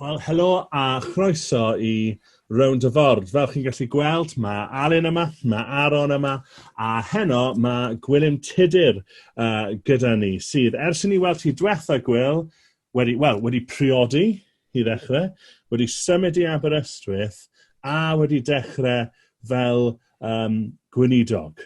Wel, helo a chroeso i Rownd y Ford. Fel chi'n gallu gweld, mae Alun yma, mae Aaron yma, a heno mae Gwilym Tudur uh, gyda ni, sydd, ers i ni weld chi diwetha, Gwil, wedi, well, wedi priodi i ddechrau, wedi symud i Aberystwyth, a wedi dechrau fel um, gweinidog.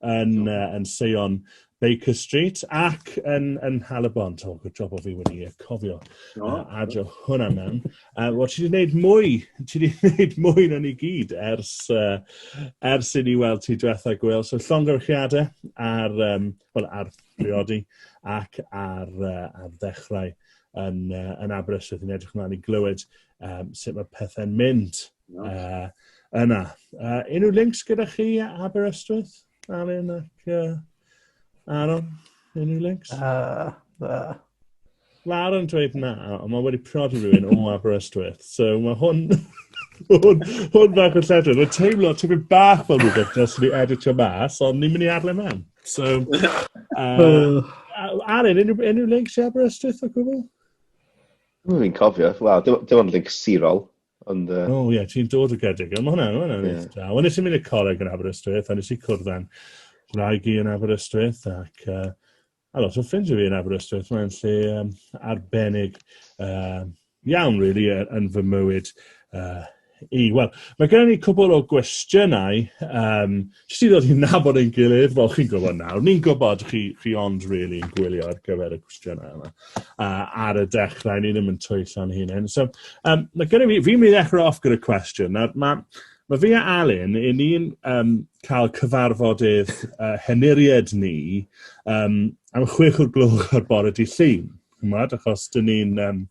yn, uh, yn Seion Baker Street ac yn, yn Halabon. To, good job o fi wedi uh, cofio no. uh, adio hwnna mewn. Uh, Wel, ti wedi gwneud mwy, ti wedi gwneud mwy na ni gyd ers, uh, ers i ni weld ti diwetha gwyl. So, llongyfrchiadau ar, um, well, ar briodi ac ar, uh, ar ddechrau yn, uh, yn Aberystwyth. Yn edrych ymlaen i glywed um, sut mae pethau'n mynd. Uh, yna. Uh, unrhyw links gyda chi Aberystwyth, Alun ac uh, Aaron? Unrhyw links? Uh, uh. Lawr yn dweud na, ond mae wedi prodi rhywun o Aberystwyth. So mae hwn... hwn, hwn bach yn lledr. Mae'n teimlo tipyn bach fel rhywbeth nes ni editio mas, ond ni'n mynd i adle mewn. So, uh, Aaron, unrhyw, unrhyw links i Aberystwyth o gwbl? Dwi'n cofio. Wel, dim ond links sirol. Ond... Yy... O ie, ti'n dod o Geredigion. Mae hwnna'n, hwnna'n yeah. eitha. Wel, nes i mynd i'r coleg yn Aberystwyth, a nes i cwrdd â'n rhaeg i yn Aberystwyth, ac uh, a lot o ffrindiau fi yn Aberystwyth. Mae'n lle um, arbennig uh, iawn, really, yn fy mywyd uh, i. Wel, mae gen i cwbl o gwestiynau um, Jyst i ddod i'n nabod ein gilydd, wel chi'n gwybod nawr, ni'n gwybod chi, chi ond really yn gwylio ar gyfer y cwestiynau yma. Uh, ar y dechrau, ni ddim yn twyllo'n hunain. So, um, mae gen i fi, fi'n mynd i ddechrau off gyda cwestiwn. Nawr, mae Mae fi a Alun, i ni'n um, cael cyfarfodydd uh, henuried ni um, am chwech o'r gloch ar bore di llun. Chymod, achos dyn ni'n um,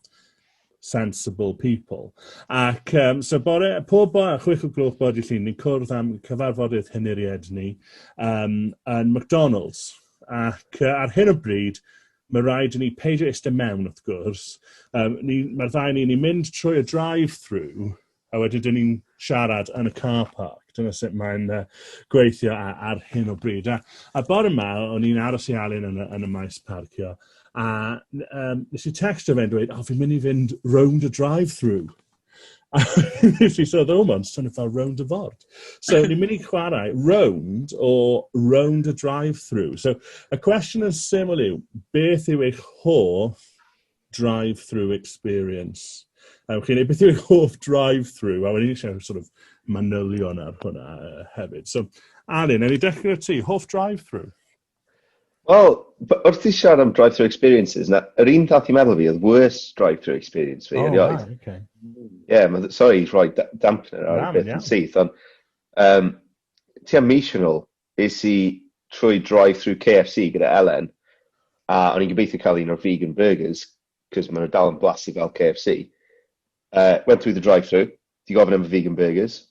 sensible people. Ac um, so bore, pob bo, chwech o gloch bod i llun, ni'n cwrdd am cyfarfodydd hyniried ni um, yn McDonald's. Ac uh, ar hyn o bryd, mae rhaid i ni peidio eistedd mewn, wrth gwrs. Um, ni, Mae'r ddau ni, ni'n mynd trwy y drive-through, a wedyn dyn ni'n siarad yn y car park. Dyna sut mae'n uh, gweithio ar, ar hyn o bryd. A, a bore yma, o'n i'n aros i Alun yn, yn y maes parcio, a um, nes i text o fe'n dweud, oh, fi'n mynd i fynd round y drive-through. A nes i sôn, oh, mae'n swnio fel round y ford. So, ni'n mynd i chwarae round o round y drive-through. So, y cwestiwn yn syml yw, beth yw eich hoff drive-through experience. A ewch i wneud beth yw'ch hoff drive-through, a wedyn eisiau sort of manylion ar hwnna uh, hefyd. So, Alun, er i dechrau ti, hoff drive-through? Wel, wrth i siarad am drive-through experiences, na, yr un ddath i meddwl fi oedd worst drive-through experience fi, oh, erioed. Ie, okay. yeah, sorry, rhoi dampener ar y beth yn syth, ond um, ti am mis yn ôl, Es i trwy drive-thru KFC gyda Elen, a o'n i'n gobeithio cael un o'r vegan burgers, cos maen nhw dal yn blasu fel KFC. Uh, went through the drive-thru, di gofyn am y vegan burgers,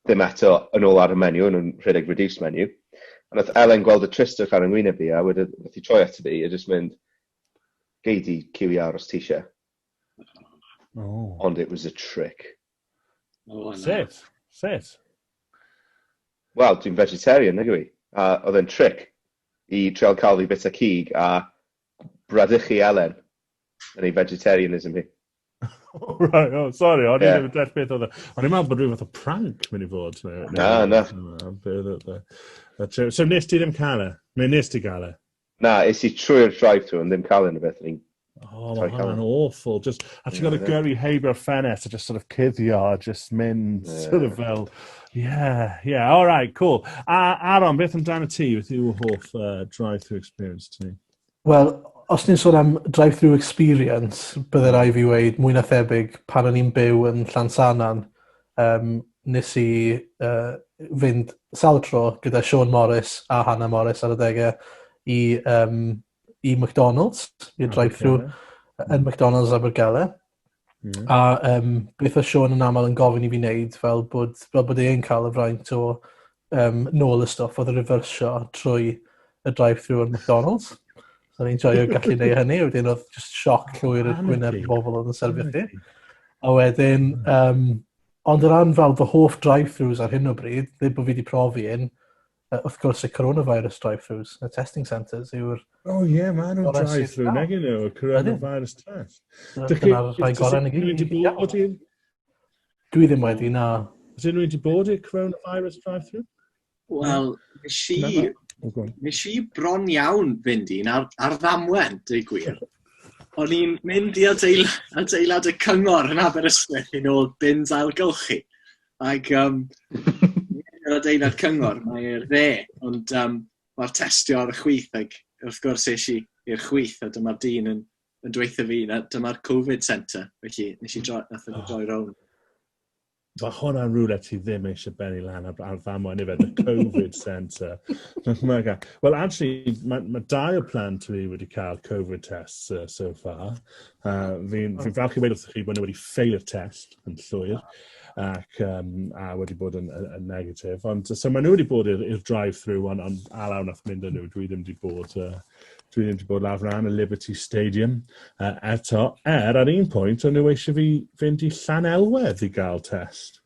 ddim eto yn ôl ar y menu, o'n nhw'n rhedeg reduced menu. A nath Elen gweld y tristwch ar yng ngwyneb i, a wedyn nath i troi ato fi, a jyst mynd, gei di QER os ti eisiau. Oh. Ond it was a trick. Sut? Sut? Wel, dwi'n vegetarian, nag yw i. A oedd e'n tric i trial cael fi bita cig a bradychu Elen yn ei vegetarianism hi. Oh, right, oh, sorry, o'n i'n yeah. deall beth oedd e. O'n i'n meddwl bod rhywbeth o prank mynd i fod. Na, na. So nes ti ddim cael e? Neu nes ti gael e? Na, es i trwy'r drive-thru ond ddim cael unrhyw beth, o'n i'n Oh, mae hwnna'n awful. Just, a ti'n gorfod gyrru heibio'r ffenest a just sort of cuddio a just mynd yeah. sort of fel... Yeah, yeah, all right, cool. A Aaron, beth amdano ti? Beth yw hoff uh, drive-through experience ti? Wel, os ni'n sôn am drive-through experience, byddai rai fi wneud mwy na thebyg pan o'n i'n byw yn Llansanan, Yym nes i yy fynd sawl tro gyda Siôn Morris a Hannah Morris ar adege i yym i McDonalds i'r drive-thru yn McDonalds Abergele. Hmm. A yym beth o' Siôn yn amal yn gofyn i fi neud fel bod fel bod e'n ca'l y fraint o um, nôl y stwff oedd y refersio trwy y drive-thru o'r McDonald's. So ni'n joio gallu neud hynny, wedyn oedd just sioc llwyr y gwyneb i bobl oedd yn sefyll chi. A wedyn, um, ond o ran fel fy hoff drive-thrus ar hyn o bryd, ddim bod fi wedi profi un, wrth gwrs y coronavirus drive-thrus, y testing centres yw'r... O oh, ie, yeah, mae nhw'n drive-thru, nag yn nhw, y coronavirus test. Dyna'r rhai gorau yn y gyd. Dwi ddim wedi, na. Has unrhyw wedi bod i'r coronavirus drive-thru? Wel, nes i, nes i bron iawn fynd i'n ar, ar ddamwen, dweud gwir. O'n i'n mynd i adeilad, adeilad y cyngor yn Aberystwyth yn ôl bins ailgylchu. Ac um, yr adeilad cyngor, mae'r dde, ond um, mae'r testio ar y chwyth ac wrth gwrs eisiau i'r chwyth a dyma'r dyn yn yn dweithio fi, na, dyma'r Covid centre, felly nes i droi, nath nhw droi rown. Mae hwnna yn rhywle ti ddim eisiau benni lan ar, ar ddamwa, neu fe, the Covid centre. Wel, actually, mae ma dau o plant fi wedi cael Covid tests uh, so far. Uh, Fi'n fi falch i wedi wrthych chi bod nhw wedi ffeilio'r test yn llwyr ac um, a wedi bod yn, yn, yn negatif. Ond so maen nhw wedi bod i'r drive-thru ond, ond alaw nath mynd â nhw, dwi ddim wedi bod uh, Dwi ddim wedi bod lawr ran y Liberty Stadium uh, eto, er ar un pwynt o'n nhw eisiau fi fynd i Llan Elwedd i gael test.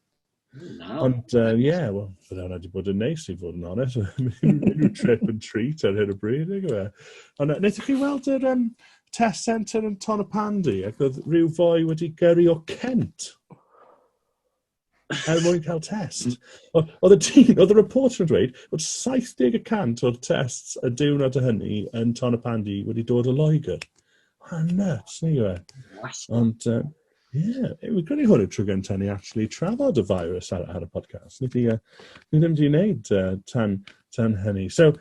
No. Ond, ie, uh, yeah, wel, fydde hwnna wedi bod yn neis i fod yn onest. Unrhyw trip and treat ar hyn o bryd, neu gyda. Ond, uh, wnaethoch chi weld yr um, test centre yn Ton y Pandy, ac oedd rhyw fwy wedi gyrru o Kent? Er mwyn cael test. Oedd y tîm, oedd y reporter yn dweud bod 70% o'r tests y diwrnod o hynny yn Ton y Pandy wedi dod o Loegr. A nuts, ni yw e. Ond, uh, yeah, fi'n credu hwn y tro gyntaf ni actually trafod y virus ar, ar y podcast. Ni, uh, ni ddim wedi gwneud uh, tan, tan hynny. So,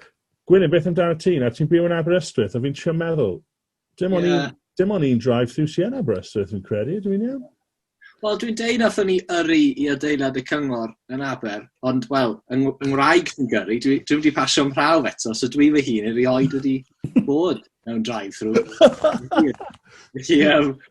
Gwynne, beth amdano ti? Na, ti'n byw yn Aberystwyth, a fi'n siarad meddwl, Dim ond yeah. un, dim ond un drive through Sienna Aberystwyth fi'n credu, dwi'n iawn? Wel, dwi'n deud nath ni yrru i adeilad y cyngor yn Aber, ond, wel, yng Ngwraeg fi'n gyrru, dwi, dwi wedi pasio am prawf eto, so dwi fy hun erioed wedi bod mewn drive-thru. Felly, um,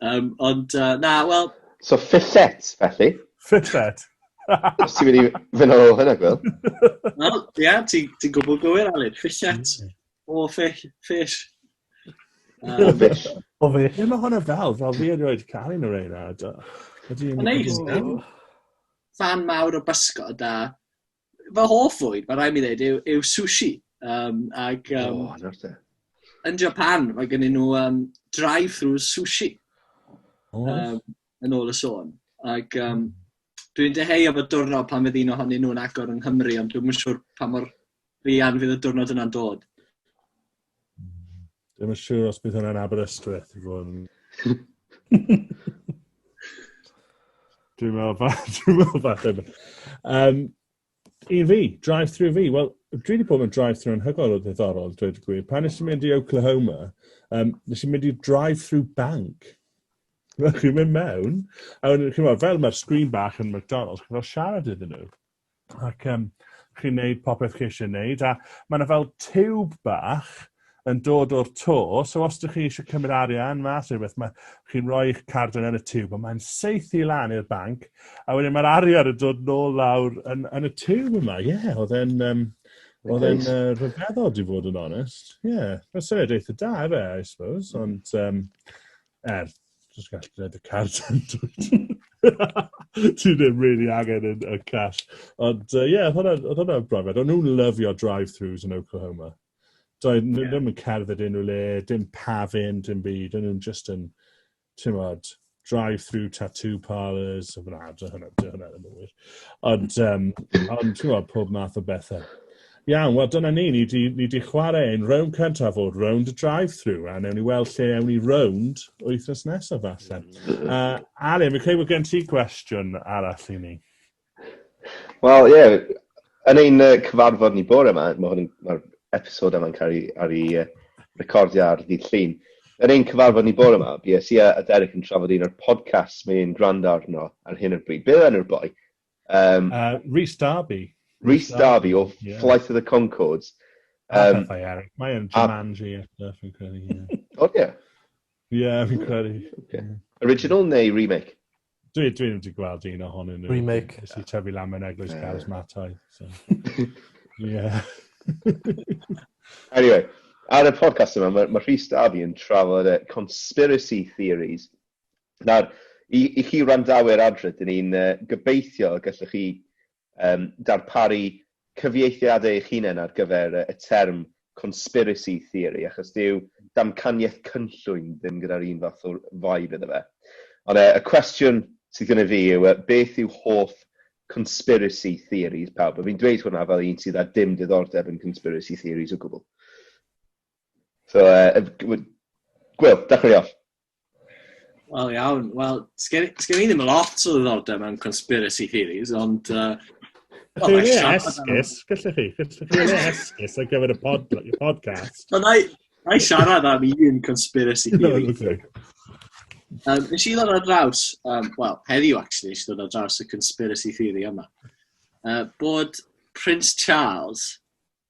Um, ond, uh, na, wel... So, ffillet, felly? Ffillet. Os ti'n mynd i fynd ar ôl hynna, Gwyl. Wel, ia, ti'n ti gwybod gywir, Aled. Ffillet mm. o fish. fish. O fish. O fish. Ie, mae hwnna fel, fel fi erioed cael un o'r ein ad. Neis, Fan mawr o bysgod a fy hoff fwyd, mae rhaid mi ddweud, yw, yw sushi. Um, ac, um, oh, nawr te. Yn Japan, mae gen nhw um, drive-through sushi. Oh. Um, yn ôl y sôn. Ac um, dwi'n deheu o fod diwrnod pan fydd un ohonyn nhw'n agor yng Nghymru, ond dwi'n siŵr pa mor fi an fydd y diwrnod yna'n dod. Ddim yn siŵr os bydd hwnna'n Aberystwyth i fod yn... Dwi'n meddwl fa- dwi'n meddwl falle bod. Yym, I fi, drive-through fi, wel dwi wedi bod mewn drive-through anhygoel o ddiddorol dweud y gwir. Pan nes i mynd i Oklahoma yym nes i mynd i drive-through bank. Fel chi'n mynd mewn a wedyn chi'n meddwl, fel mae'r sgrin bach yn McDonald's chi'n fel siarad iddyn nhw. ac um, chi'n neud popeth chi eisiau neud, a mae yna fel tiwb bach yn dod o'r to, so os ydych chi eisiau cymryd arian mas neu beth, mae chi'n rhoi eich card yn y tiwb, a mae'n seithi lan i'r banc, a wedyn mae'r arian yn dod nôl lawr yn, yn y tiwb yma, ie, yeah, oedd e'n... Um, Oedd e'n uh, rhyfeddol, di fod yn onest. Ie, yeah. mae'n syniad eitha da, fe, I suppose, ond... Um, Er, jyst gallu gwneud y car tendwyd. Ti ddim really angen yn, y cash. Ond, ie, uh, yeah, oedd hwnna'n brofiad. Ond nhw'n lyfio drive-thrus yn Oklahoma. Doedd yeah. ddim yn cerdded unrhyw le, dim pafin, dim byd. O'n nhw'n just yn, ti'n modd, drive-through tattoo parlours. Na, dy hwnna, dy hwnna ddim yn wir. Ond, um, ond ti'n modd, pob math o bethau. Iawn, wel dyna ni, ni di, ni di chwarae yn rownd cyntaf o'r rownd y drive-through, a newn ni weld lle ewn ni rownd wythnos nesaf falle. Uh, Alun, fi'n credu bod gen ti gwestiwn arall i ni. Wel, ie, yeah, yn ein uh, cyfarfod ni bore yma, mae hwn mae'r episod yma'n cael ei, ar ei uh, recordio ar ddydd llun. Yn ein cyfarfod ni bore yma, bu Sia a Derek yn trafod un o'r podcast mae'n gwrando arno ar hyn o'r bryd. Beth enw'r boi? Um, uh, Rhys Darby. Rhys Darby o yeah. Flight of the Concords. Um, pethau eraill. Mae yn Jumanji a stuff yn credu. O, ie. Ie, fi'n credu. Original neu remake? Dwi, dwi wedi gweld un ohonyn nhw. Remake. Nes i tyfu lam yn eglwys yeah. Caws Matau. So. yeah. anyway, ar y podcast yma, mae ma Rhys Darby yn trafod uh, conspiracy theories Nawr, i, i chi wrandawyr adre, dyn ni'n uh, gobeithio y gallwch chi um, darparu cyfieithiadau eich hunain ar gyfer y term conspiracy theory, achos dyw damcaniaeth cynllwyn ddim gyda'r un fath o vibe iddo fe. Ond uh, y cwestiwn sydd gyda fi yw, uh, beth yw hoff conspiracy theories pawb? A fi'n dweud hwnna fel un sydd â dim diddordeb yn conspiracy theories o gwbl. So, uh, Gwyl, dechrau off. Wel iawn, wel, sgen i sgen i ddim lot o ddiddordeb mewn conspiracy theories, ond yy... Gallwch chi wneud e esgus, gallwch chi. Gallwch chi wneud e esgus ar gyfer y pod- y podcast. Wel wna i wna i siarad am un conspiracy theory. Iawn, ocê. Yym, nes i ddod ar draws, yym, wel, heddiw actually, nes i ddod ar draws y conspiracy theory yma. Yy, bod Prince Charles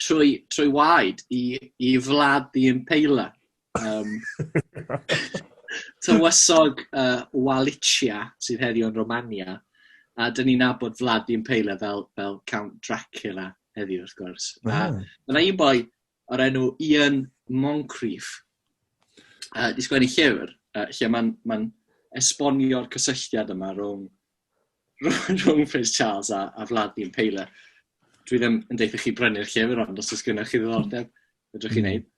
trwy, trwy waed i, i wlad i impaler. Um, tywysog uh, Walicia sydd heddiw yn Romania, a dyn ni'n nabod Vlad i'n peile fel, fel Count Dracula heddiw, wrth gwrs. Mm. A ah. yna un boi o'r enw Ian Moncrief, uh, di sgwennu llyfr, uh, lle mae'n ma esbonio'r cysylltiad yma rhwng rhwng Prince Charles a, a Vlad the Impaler. Dwi ddim yn deitha chi brynu'r llyfr ond os oes gennych chi ddiddordeb, fedrwch chi hmm. wneud.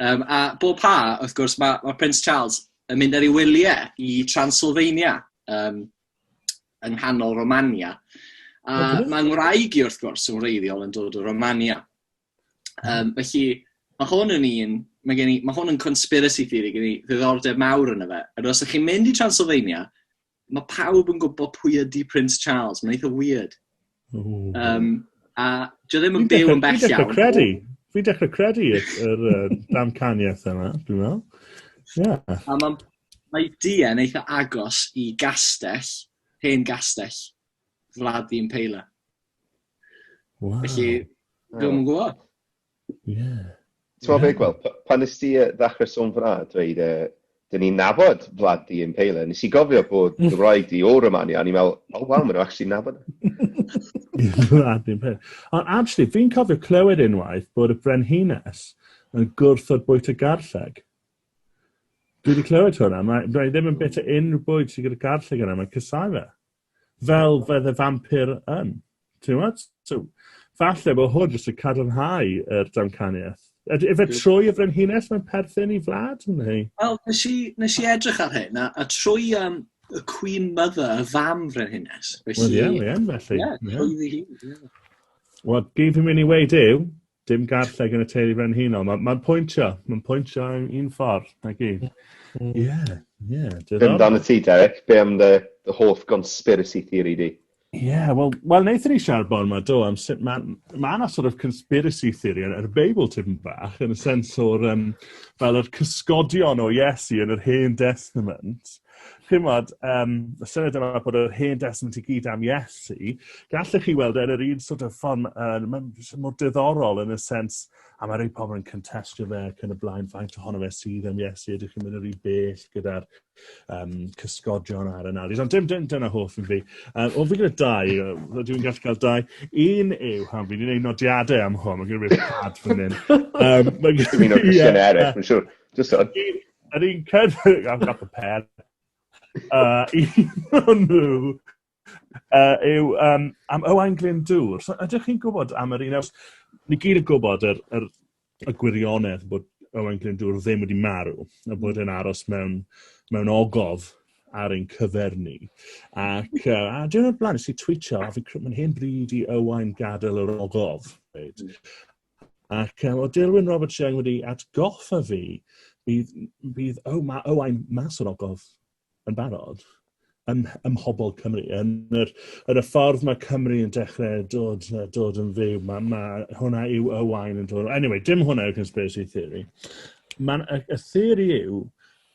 Um, a bob pa, wrth gwrs, mae, mae Prince Charles yn mynd ar ei wyliau i Transylvania, um, yng nghanol Romania. A mae ngwraig i, wrth gwrs, yn wreiddiol yn dod o Romania. Um, felly, mae hwn yn un, mae, gen i, mae hwn yn conspiracy theory gen i ddiddordeb mawr yn y fe. Yr os ych chi'n mynd i Transylvania, mae pawb yn gwybod pwy ydy Prince Charles. Mae'n eitha weird. Um, a dwi ddim yn byw yn bell iawn. Fi'n dechrau credu. Fi'n dechrau credu yr uh, damcaniaeth yma, dwi'n meddwl. Yeah. A mae, mae Dien eitha agos i gastell, hen gastell, Vlad Impaler. Wow. Felly, dwi'n yn gwybod. Yeah. Ti'n meddwl beth, Gwel, pan nes ti ddechrau sôn fyna, dweud, uh, dyn ni'n nabod Vlad di yn Pele, nes i gofio bod dy wraig di o Romania, a ni'n meddwl, o oh, waw, maen nhw actually nabod. Vlad di yn Pele. Ond actually, fi'n cofio clywed unwaith bod y brenhines yn gwrthod bwyt y garlleg. Dwi wedi clywed hwnna, mae, mae ddim yn bit o unrhyw bwyd sy'n gyda garlleg yna, mae'n cysau fe. fel fedd y fampir yn. Ti'n gwybod? So, falle bod hwn jyst yn cadarnhau yr damcaniaeth. Ydy efe trwy y frenhines mae'n perthyn i Vlad, neu? Wel, nes i, nes i edrych ar hyn, a, a trwy um, y Queen Mother, y fam frenhines. Wel, ie, ie, felly. Ie, trwy ddi hi. Wel, gyd fi'n mynd i weid yw, Dim garlleg yn y teulu frenhinol. Mae'n ma pwyntio. Mae'n pwyntio yn un ffordd. Na gi. Ie. Mm. Yeah. Yeah. Dim dan y ti, Derek. Be am dy, dy hoff conspiracy theory di? Ie, yeah, wel, well, wnaethon ni siarad bor yma, do, am sut mae ma yna sort of conspiracy theory yn yr Beibl tipyn bach, yn y sens o'r, um, fel yr cysgodion o Iesu yn yr Hen Testament, chi'n bod, um, y syniad yma bod yr hen destament i gyd am Iesu, gallech chi weld e yn yr un sort of ffon, uh, mae'n mor diddorol yn y sens, a mae rhai pobl yn contestio fe ac yn y blaen, faint ohono fe sydd am Iesu, ydych chi'n mynd yr un bell gyda'r um, cysgodion a'r analis, ond dim, dim dyna hoff yn fi. Um, o, fi gyda dau, rydw i'n gallu cael dau. Un yw, ham fi'n ei nodiadau am hwn, mae gen i wedi pad fan hyn. Um, mae gen i... Dwi'n mynd o'r cwestiynau eraill, mae'n siŵr. Just on. Yr un cynnig, I've got the pen. Uh, un o'n nhw uh, yw um, am Owain Glyndŵr. So, ydych chi'n gwybod am yr un? Ni gyd yn gwybod yr, yr, y gwirionedd bod Owain Glyndŵr ddim wedi marw, a bod yn aros mewn, mewn ogof ar ein cyfer ni. Ac uh, a dwi'n o'r blaen, nes i tweetio, a fi'n credu mae'n hen bryd i Owain gadael yr ogof. Right? Ac um, o Dilwyn Robert Young wedi atgoffa fi, bydd, bydd oh, mae Owain mas o'r ogof yn barod ym, ym mhobl Cymru. Yn, yr, yn y ffordd mae Cymru yn dechrau dod, dod yn fyw, mae, mae hwnna yw Owain yn dod. Anyway, dim hwnna yw conspiracy theory. Mae'n y, y theori yw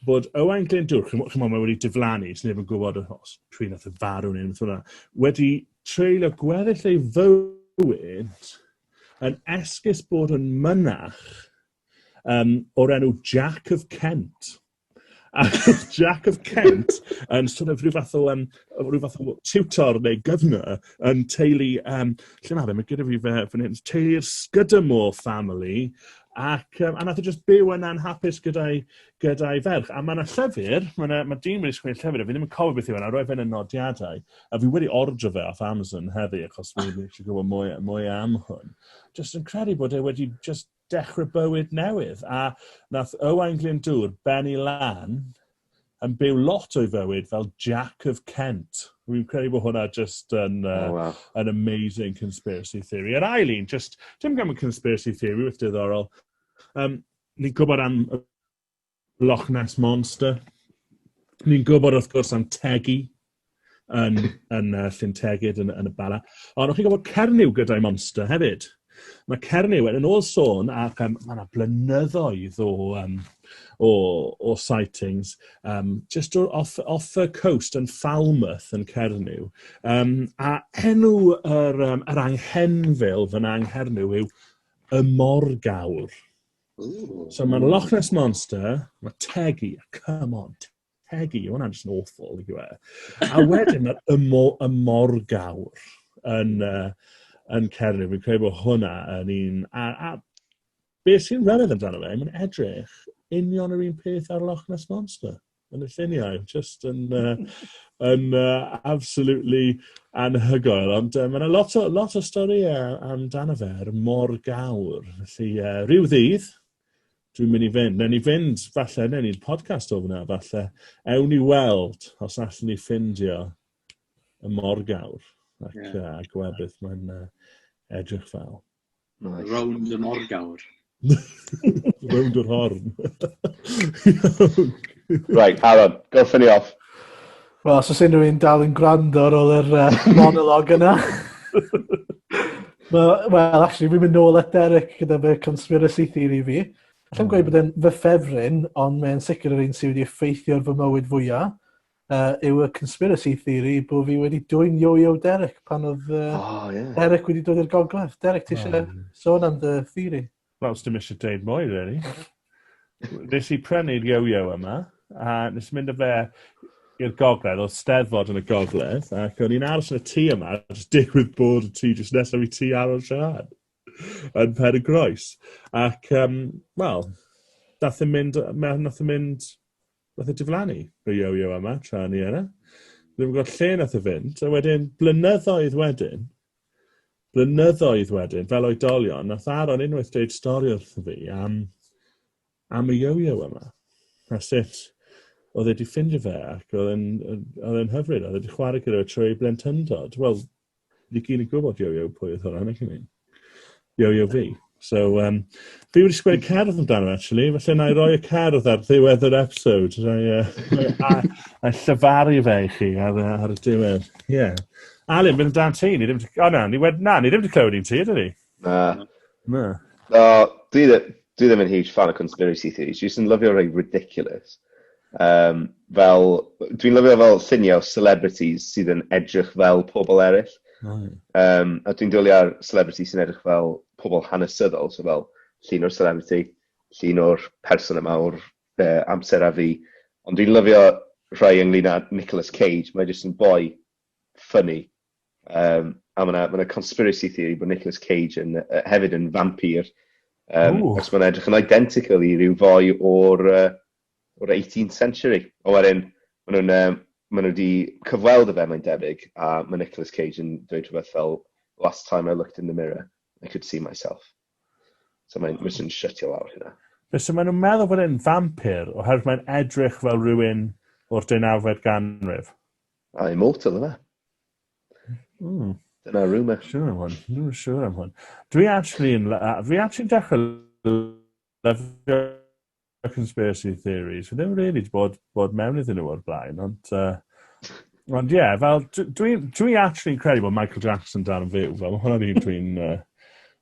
bod Owain Glyndŵr, chymod, chymod mae wedi diflannu, sy'n neb yn gwybod os pwy nath y farw neu beth hwnna, wedi treulio gweddill ei fywyd yn esgus bod yn mynach um, o'r enw Jack of Kent. A Jack of Kent yn sort of rhyw fath o, um, rhyw fath o tutor neu gyfnor yn teulu, um, lle mae fe, mae gyda fi fe fan hyn, teulu'r Scudamore family, Ac, um, a nath o just byw yna'n hapus gyda'i gyda ferch. A mae yna llyfr, mae, yna, mae dyn wedi sgwini llyfr, a fi ddim yn cofio beth yw yna, e, roedd fe'n y nodiadau. A fi wedi ordro fe off Amazon heddi achos fi fi isie gwbod mwy mwy am hwn. Jyst yn credu bod e wedi jyst dechre bywyd newydd a nath Owain Glyndŵr benni lan yn byw lot o'i fywyd fel Jack of Kent. Fi'n credu bod hwnna jyst yn uh, oh, wow. an amazing conspiracy theory. Yr ail un, jyst dim gan y conspiracy theory, wyth diddorol. Um, ni'n gwybod am Loch Ness Monster. Ni'n gwybod, wrth gwrs, am Teggy yn yn yy Llyn Tegid yn yn y Bala. Ond o'ch chi'n gwybod Cernyw gyda'i monster hefyd? Mae Cernyw, yn ôl sôn, ac yym mae 'na blynyddoedd o yym o o sightings, yym jyst o off off y coast yn Falmouth yn Cernyw. Yym a enw yr yym yr anghenfil fyna yng Nghernyw yw y Morgawr. Ooh. So mae'r Loch Ness Monster, mae Tegi, come on, Tegi, mae hwnna'n just yn awful i gwe. A wedyn mae'r ymo, ymorgawr yn, uh, yn Cernyw. Fi'n credu bod hwnna yn un... A, a beth sy'n rhyfedd amdano fe, mae'n edrych union yr un peth ar Loch Ness Monster. Yn y lluniau, just yn, uh, yn uh, absolutely anhygoel. Ond uh, mae yna lot o, lot o storïau amdano fe ar mor gawr. Felly, uh, rhyw ddydd, dwi'n mynd i fynd. Newn ni fynd, falle, newn ni'n podcast o fyna, falle. Ewn ni weld os allan ni ffindio y mor gawr ac yeah. uh, gwebydd mae'n uh, edrych fel. Nice. Rownd y morgawr. Rownd yr horn. right, Aaron, go ffynnu off. Wel, os oes unrhyw un dal yn gwrando ar ôl yr uh, monolog yna. Wel, well, actually, fi'n mynd nôl at Derek gyda fe conspiracy theory fi. Allai'n gweud bod e'n fy ffefryn, ond mae'n sicr yr un sydd wedi effeithio ar fy mywyd fwyaf. uh, yw y conspiracy theory bod fi wedi dwy'n yo-yo Derek pan oedd uh, oh, yeah. Derek wedi dod i'r gogledd. Derek, ti eisiau oh. sôn am dy theory? Wel, dim eisiau deud mwy, really. nes i prynu'r yo-yo yma, a nes i mynd â fe i'r gogledd, oedd steddfod yn y gogledd, ac o'n i'n aros yn y tŷ yma, a jyst digwydd bod y tŷ jyst nesaf i tŷ Aron Sian yn Pen y Groes. Ac, um, wel, nath yn mynd, nath yn mynd Nath e diflannu, y yo-yo yma, tra o'n i yna. Ddim yn gwybod lle nath e fynd. A wedyn, blynyddoedd wedyn, blynyddoedd wedyn, fel oedolion, nath Aaron unwaith dweud stori wrtho fi am, am y yo-yo yma. A sut oedd e wedi ffindio fe ac oedd e'n hyfryd, oedd e wedi chwarae gyda fe trwy ei blentyndod. Wel, Fi gyd yn gwybod Yo Yo pwy oedd hwnna, neu chi'n mynd. Yo Yo fi. So, um, fi wedi sgwyd cerdd amdano, actually. Felly, na i roi y cerdd ar ddiwedd yr episode. Na i, uh, a, llyfaru fe i chi ar, ar y diwedd. Ie. Yeah. Alun, mynd amdano ti. Ni ddim... O na, ni wedi... Na, ni ddim wedi clywed i'n ti, ydyn ni? Na. Na. Na, dwi ddi- dwi ddim yn huge fan o conspiracy theories, dwi jyst yn lyfio rhei ridiculous. Um, fel, dwi'n lyfio fel lluniau o celebrities sydd yn edrych fel pobl eraill. Mm. Um, a dwi'n dwylio ar celebrity sy'n edrych fel pobl hanesyddol, so fel llun o'r celebrity, llun o'r person yma o'r uh, amser a fi. Ond dwi'n lyfio rhai ynglyn â Nicolas Cage, mae jyst yn boi ffynnu. Um, a mae yna ma conspiracy theory bod Nicolas Cage yn, uh, hefyd yn vampir. Um, Ooh. os mae'n edrych yn identical i ryw fwy o'r, uh, or 18th century. O wedyn, maen nhw'n um, ma nhw wedi cyfweld y fe, mae'n debyg, a mae Nicolas Cage yn dweud rhywbeth fel, last time I looked in the mirror, I could see myself. So mae'n oh. yn shutio lawr hynna. Felly maen nhw'n meddwl bod e'n vampir, oherwydd mae'n edrych fel rhywun o'r deunawfed ganrif. A Immortal yna. Mm. Dyna rumour. Siwr am hwn. Dwi'n siwr am hwn. Dwi actually yn... Fi actually dechrau lyfio conspiracy theories. Fi ddim really bod, bod mewn iddyn nhw o'r blaen, ond... Uh, ond ie, yeah, fel, dwi, dwi actually yn credu bod Michael Jackson dan yn fyw. Fel, hwnna'n un dwi'n... Uh,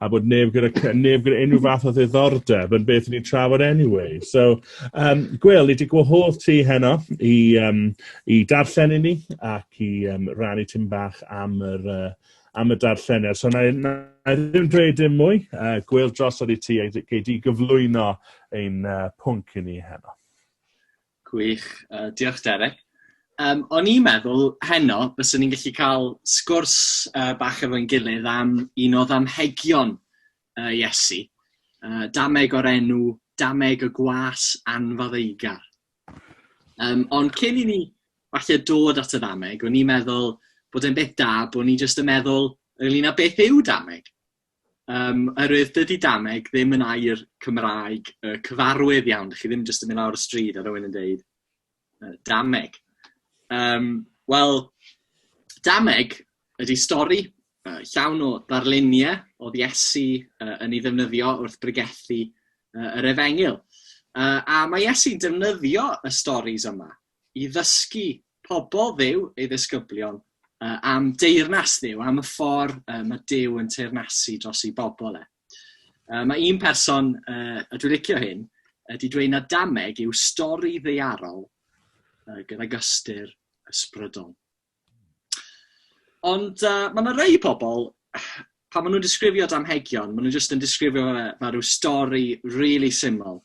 a bod neb gyda neb gyda unrhyw fath o ddiddordeb yn beth ni'n trafod anyway. So, um, Gwyl, ni wedi gwahodd ti heno i, um, i darllen i ni ac i um, rannu tyn bach am yr, uh, am y darlleniad. So, na, na, na ddim dweud dim mwy. Uh, Gwyl, drosodd i ti a gei di gyflwyno ein uh, pwnc i ni heno. Gwych. Yy, diolch Derek. Yym, o'n i'n meddwl heno byswn ni'n gallu cael sgwrs yy bach efo'n gilydd am un o ddamhegion yy Iesu, yy dameg o'r enw dameg y gwas anfaddeugar. Yym, ond cyn i ni falle dod at y ddameg, o'n i'n meddwl bod e'n beth da bod ni jyst yn meddwl ynglŷn â beth yw dameg. Yym, oherwydd dydy dameg ddim yn air Cymraeg yy cyfarwydd iawn, dych chi ddim jyst yn mynd lawr y stryd a rhywun yn deud yy dameg. Yym, wel, dameg ydy stori yy llawn o ddarlunie o'dd Iesu yy yn 'i ddefnyddio wrth bregethu yy yr efengyl. Yy a ma' Iesu'n defnyddio y storis yma i ddysgu pobl Dduw, ei ddisgyblion, uh, am deyrnas Dduw, am y ffordd uh, mae Duw yn teyrnasu dros ei bobl e. Uh, mae un person, uh, a dwi'n licio hyn, ydy dweud na dameg yw stori ddeiarol uh, gydag ystyr ysbrydol. Ond uh, mae yna rei pobl, pan maen nhw'n disgrifio damhegion, maen nhw'n jyst yn disgrifio fe fel rhyw stori really syml,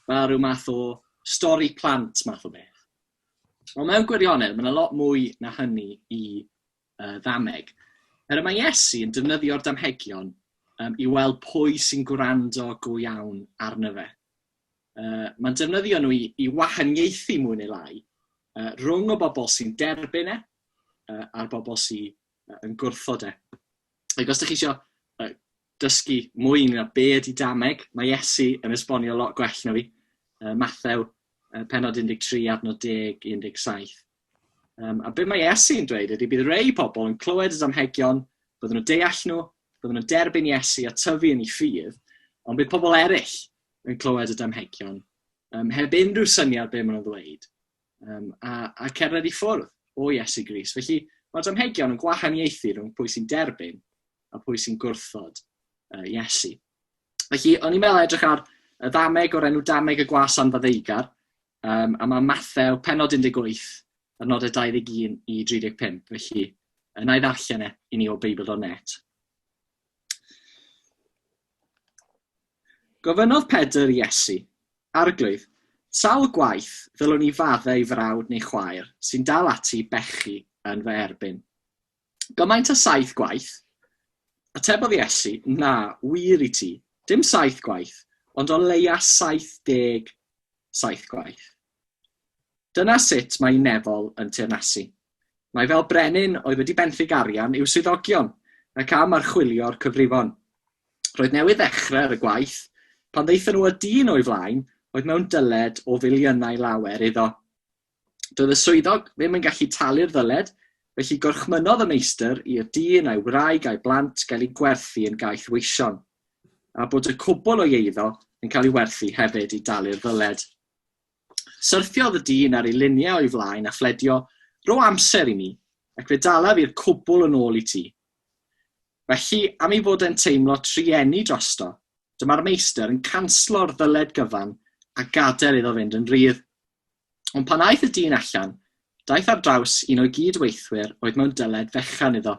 fel rhyw math o stori plant math o beth. Ond mewn gwirionedd, mae'n a lot mwy na hynny i uh, ddameg. Er y mae Iesu yn defnyddio'r damhegion um, i weld pwy sy'n gwrando go iawn arno fe. Uh, mae'n defnyddio nhw i, i wahaniaethu mwy neu lai uh, rhwng o bobl sy'n derbyn e uh, a'r bobl sy'n yn gwrthod e. Ac os ydych chi eisiau uh, dysgu mwy ynglyn â be ydy dameg, mae Iesu yn esbonio lot gwell na fi. Uh, Mathew, uh, penod 13, adnod 10, 17. Um, a be mae Iesu yn dweud ydy bydd rei pobl yn clywed y damhegion, byddwn nhw'n deall nhw, byddwn nhw'n derbyn Iesu a tyfu yn ei ffydd, ond bydd pobl eraill yn clywed y damhegion um, heb unrhyw syniad be maen nhw'n ddweud. um, a, a cerdded i ffwrdd o Iesu Gris. Felly mae damhegion yn gwahaniaethu rhwng pwy sy'n derbyn a pwy sy'n gwrthod uh, Iesu. Felly, o'n i'n meddwl edrych ar y ddameg o'r enw dameg y gwas anfaddeigar, um, a mae Mathew penod 18 a'r nodau 21 i 35. Felly, yna i ddarllen e i ni o Beibl.net. Gofynnodd Pedr i Iesu, Arglwydd, sawl gwaith ddylwn i faddau i frawd neu chwaer sy'n dal ati i bechu yn fy erbyn? Gymaint â saith gwaith? Atebodd Iesu, Na, wir i ti, dim saith gwaith, ond o leia' saith deg saith gwaith. Dyna sut mae Nefol yn teyrnasu. Mae fel brenin oedd wedi benthyg arian i'w swyddogion ac am archwilio'r cyfrifon. Roedd newydd ddechrau ar y gwaith pan ddaethon nhw â dyn o'i flaen oedd mewn dyled o filiynau lawer iddo. Doedd y swyddog ddim yn gallu talu'r ddyled, felly gorchmynnodd y meistr i'r dyn a'i wraig a'i blant gael eu gwerthu yn gaeth weision, a bod y cwbl o'i eiddo yn cael ei werthu hefyd i dalu'r ddyled. Syrthiodd y dyn ar ei luniau o'i flaen a phledio, Ro amser i mi, ac fe dalaf i'r cwbl yn ôl i ti. Felly, am ei fod e'n teimlo trueni drosto, dyma'r meistr yn canslo'r ddyled gyfan a gadael iddo fynd yn rhydd. Ond pan aeth y dyn allan, daeth ar draws un o'i gyd-weithwyr oedd mewn dyled fechan iddo,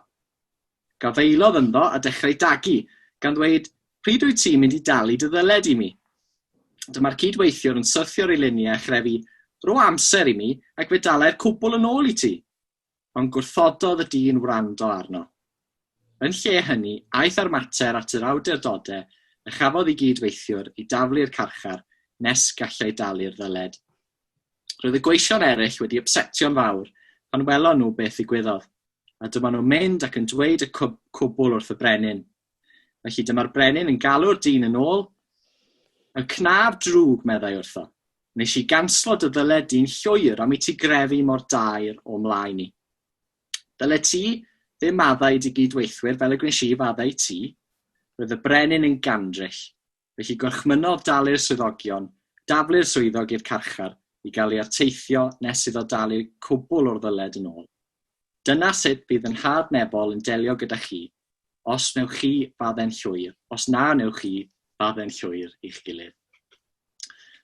Gafaelodd ynddo a dechrau dagu, gan ddweud, Pryd wyt ti'n mynd i dalu dy ddyled i mi? Dyma'r cyd-weithiwr yn syrthio'r eilyniau a chrefu, Rho amser i mi, ac fe dalai'r cwbl yn ôl i ti! Ond gwrthododd y dyn wrando arno. Yn lle hynny, aeth â'r mater at yr awdurdodau a chafodd ei gyd-weithiwr i daflu'r carchar nes gallai dalu'r ddyled. Roedd y gweision eraill wedi ypsetio'n fawr pan welon nhw beth ddigwyddodd, a dyma nhw'n mynd ac yn dweud y cwb, cwbl wrth y brenin. Felly dyma'r brenin yn galw'r dyn yn ôl. Y cnaf drwg, meddai wrtho. Nes i ganslo dy ddyled di'n llwyr am i ti grefu mor daer o mlaen i. Dyle ti ddim maddau i dy gyd-weithwyr fel y gwnes i faddau ti. Roedd y brenin yn gandryll. Felly gorchmynnodd dalu'r swyddogion, daflu'r swyddog i'r carchar i gael ei arteithio nes iddo dalu cwbl o'r ddyled yn ôl. Dyna sut bydd yn nhad Nebol yn delio gyda chi, os wnewch chi fadde'n llwyr, os na wnewch chi fadde'n llwyr i'ch gilydd.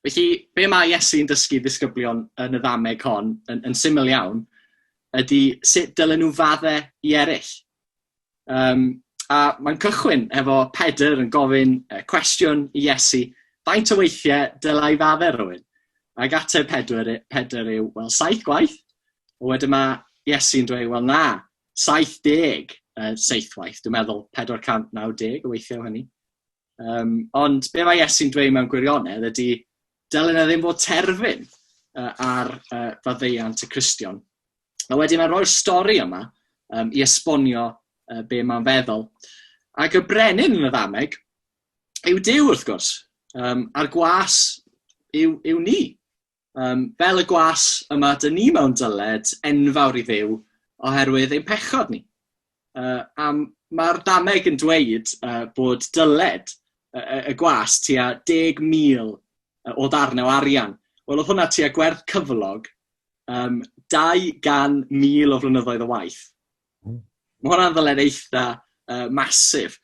Felly, be mae Iesu'n dysgu ddisgyblion yn y ddameg hon, yn, yn syml iawn, ydy sut dylen nhw fadde i eraill. Yym, a mae'n cychwyn efo Pedr yn gofyn yy cwestiwn i Iesu, faint o weithie dyla i fadde rywun? Ag ateb Pedwyr y- Pedr yw, wel, saith gwaith. A wedyn ma' Iesu'n dweud, wel, na, 70 yy seithwaith, dwi'n meddwl 490 o weithie o hynny. Yym, ond be' ma' Iesu'n dweud mewn gwirionedd ydi, dylen e ddim fod terfyn yy ar yy faddeuant y Cristion. A wedyn a roi'r stori yma um, i esbonio uh, be mae'n feddwl. Ac y brenin yn y ddameg yw Dyw wrth gwrs, um, a'r gwas yw, yw ni. Um, fel y gwas yma, dyn ni mewn dyled enfawr i ddew oherwydd ein pechod ni. Yy a mae'r dameg yn dweud yy bod dyled y y y gwas tua 10,000 yy o ddarne o arian. Wel oedd hwnna tua gwerth cyflog yym 200,000 o flynyddoedd o waith. Hmm. Mae hwnna'n ddyled eitha yy massive.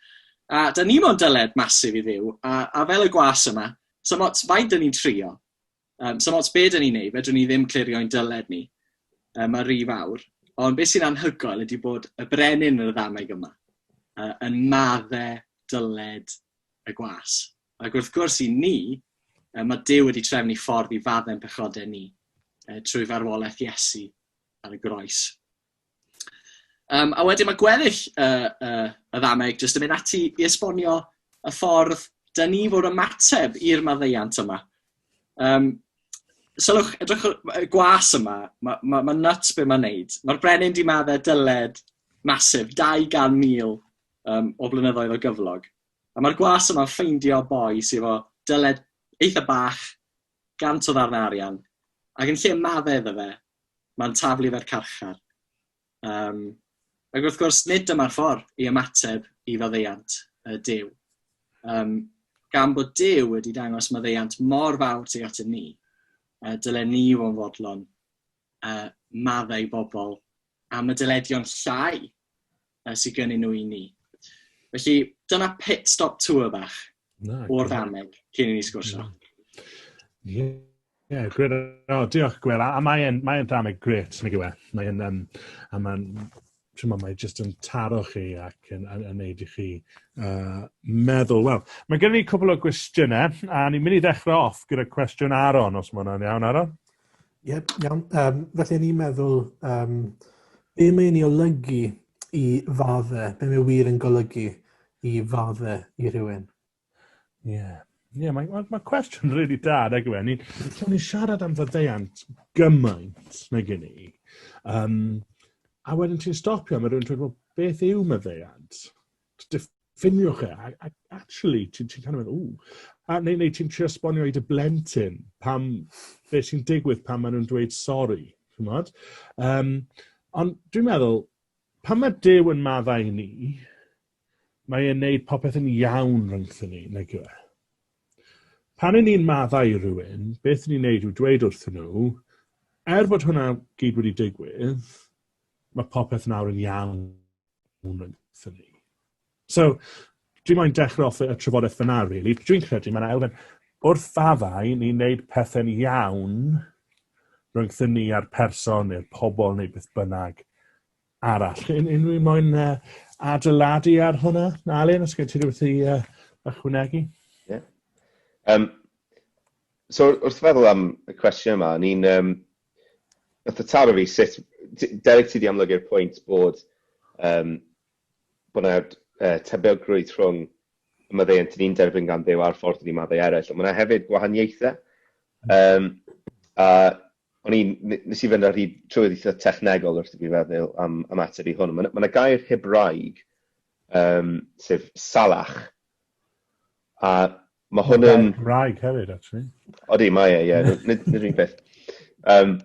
A da ni mo'n dyled massive i Dduw, a a fel y gwas yma, 'sa'm ots faint 'dyn ni'n trio, Um, so ots beth yn ei wneud, fedrwn ni ddim clirio'n dyled ni um, ar rif awr. Ond beth sy'n anhygoel ydy bod y brenin yn y ddameg yma uh, yn madde dyled y gwas. Ac wrth gwrs i ni, uh, mae Dyw wedi trefnu ffordd i faddau'n pechodau ni uh, trwy farwolaeth Iesu ar y groes. Um, a wedyn mae gweddill uh, uh, y ddameg jyst yn mynd ati i esbonio y ffordd dyn ni fod ymateb i'r maddeiant yma. Um, sylwch, edrych y gwas yma, mae ma, ma nuts be mae'n neud. Mae'r brenin di maddau dyled masif, 200,000 um, o blynyddoedd o gyflog. A mae'r gwas yma'n ffeindio boi sydd efo dyled eitha bach, gant o ddarnau arian, ac yn lle maddau iddo fe, mae'n taflu fe'r carchar. Um, ac wrth gwrs, nid dyma'r ffordd i ymateb i faddeuant y Dyw. Um, gan bod Dyw wedi dangos maddeuant mor fawr tuag atyn ni, uh, dylen ni o'n fodlon uh, maddau bobl am y dyledion llai uh, sydd gennyn nhw i ni. Felly, dyna pit stop tour bach no, o'r ddameg cyn i ni sgwrsio. No. Yeah. yeah, gwir. O, oh, diolch, gwir. A, a mae'n mae ddameg gret, nag yw e? Mae'n, um, a mae'n, ti'n meddwl, mae'n jyst yn taro chi ac yn, yn, yn neud i chi uh, meddwl. Wel, mae gen i cwbl o gwestiynau, a ni'n mynd i ddechrau off gyda cwestiwn Aron, os mae hwnna'n iawn, Aron? Ie, iawn. Um, felly, ni'n meddwl, um, be mae'n ei olygu i fadde, be mae wir yn golygu i fadde i rhywun? Ie. Yeah. Ie, yeah, mae, mae, mae cwestiwn rili really da, nag yw e? Ni'n so ni siarad am faddeuant gymaint nag i ni. Um, a wedyn ti'n stopio, mae rhywun dweud, well, beth yw maddeuant? Diffyg ffiniwch e, a, a actually, ti'n ti kind of mynd, ww. A, neu, neu ti'n trio sbonio i dy blentyn pam, be sy'n digwydd pan maen nhw'n dweud sori, ti'n modd? Um, ond dwi'n meddwl, pan mae Dyw yn maddau ni, mae e'n neud popeth yn iawn rhwngthyn ni, nag yw e? Pan yn ni'n maddau i rywun, beth ni'n neud yw dweud wrthyn nhw, er bod hwnna gyd wedi digwydd, mae popeth nawr yn iawn. moment for me. So, dwi'n moyn dechrau off y trafodaeth fyna, really. Dwi'n credu mae'n elfen, wrth faddau ni'n gwneud pethau'n iawn rhwngth ni a'r person neu'r pobl neu beth bynnag arall. Yn unrhyw moyn uh, adeiladu ar hwnna, Alun, os gen ti rhywbeth i uh, ychwanegu? Yeah. Um, so, wrth feddwl am y cwestiwn yma, ni'n um, Nath e taro fi sut... T- Derek ti 'di amlygu'r pwynt bod yym bo' 'na yy tebygrwydd rhwng y maddeuant 'dyn ni'n derbyn gan Dduw a'r ffordd 'dyn ni'n maddau eryll ond ma' 'na hefyd gwahaniaethe yym a o'n i'n n- nes i fynd ar hyd trwy'r eitha technegol wrth i fi feddwl am am ateb i hwn ma' 'na ma' 'na gair Hebraeg yym sef salach a Mae hwn yn... Gair Cymraeg hefyd, actually. Odi, mae e, ie. Yeah. Nid, nid un peth. Um,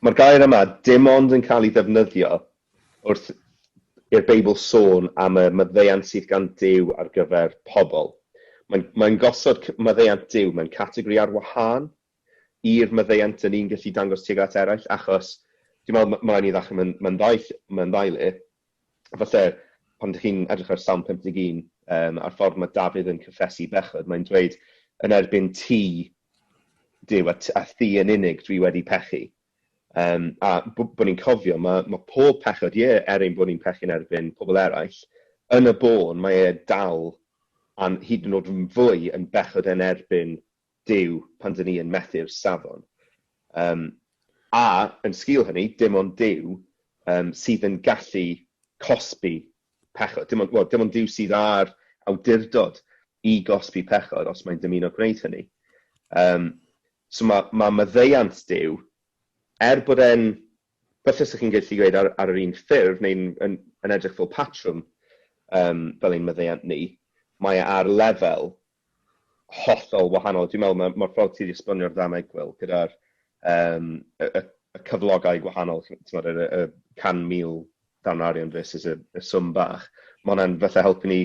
Mae'r gair yma dim ond yn cael ei ddefnyddio wrth i'r Beibl sôn am y maddeuant sydd gan Dyw ar gyfer pobl. Mae'n mae gosod maddeuant Dyw mewn categori ar wahân i'r maddeuant dan ni'n gallu dangos tuag at eraill, achos dwi'n meddwl ma' ma' raid ni ddechrau mewn mewn ddau ll- mewn ddau le. Falle pan dych chi'n edrych ar Salm 51, yym, a'r ffordd ma' Dafydd yn cyffesu bechod, mae'n dweud, yn erbyn ti, Duw, a t- a thi yn unig dwi wedi pechu. Um, a b- bod ni'n cofio, mae, mae pob pechod, ie, er ein bod ni'n pechu'n erbyn pobl eraill, yn y bôn mae e dal, a'n hyd yn oed yn fwy, yn bechod yn erbyn Duw pan dyn ni yn methu'r safon. Yym, a, yn sgil hynny, dim ond Duw yym sydd yn gallu cosbi pechod. Dim ond, wel, dim ond Duw sydd â'r awdurdod i gosbi pechod os mae'n dymuno gwneud hynny. Yym, so mae, mae maddeuant Duw, er bod e'n, falle sych chi'n gallu gweud ar, ar yr un ffurf, neu'n yn, yn edrych fel patrwm, um, fel ein maddeuant ni, mae e ar lefel hollol wahanol. Dwi'n meddwl mae'r ma ffordd ti wedi esbonio'r ddau egwyl gyda'r um, y, y, y cyflogau gwahanol, tymod, y, y 100,000 dan arian versus y, y swm bach, mae hwnna'n fatha helpu ni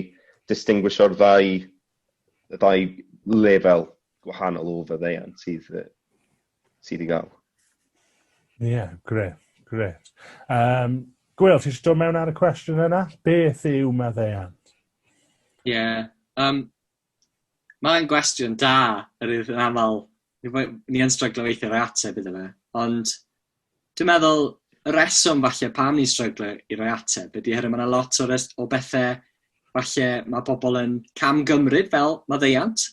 distinguisho'r ddau, y ddau lefel gwahanol o fyddeiant sydd sydd i gael. Ie, yeah, gret, gret. Um, Gwyl, ti eisiau dod mewn ar y cwestiwn yna? Beth yw maddeuant? Ie, yeah, um, mae'n gwestiwn da, yr yw yn aml, ni yn stryglo weithio roi ateb iddo fe, ond dwi'n meddwl y reswm falle pam ni'n stryglo i roi ateb ydy hynny, mae yna lot o, o bethau falle mae pobl yn cam gymryd fel maddeuant,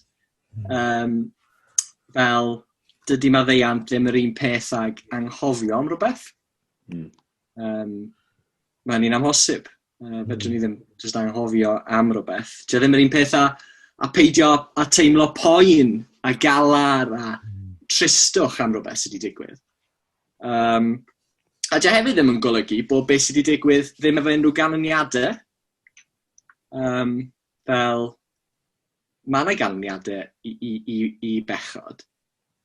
Yym, fel, dydy maddeuant ddim yr un peth ag anghofio am rhywbeth. Mm. Um, Mae'n un amhosib. Uh, fedrwn ni hmm. ddim jyst anghofio am rhywbeth. Dio ddim yr un peth a, a peidio a teimlo poen a galar a hmm. tristwch am rhywbeth sydd wedi digwydd. Um, a dio hefyd ddim yn golygu bod beth sydd wedi digwydd ddim efo unrhyw ganlyniadau. Um, fel, ma' 'na ganlyniade i i i i bechod,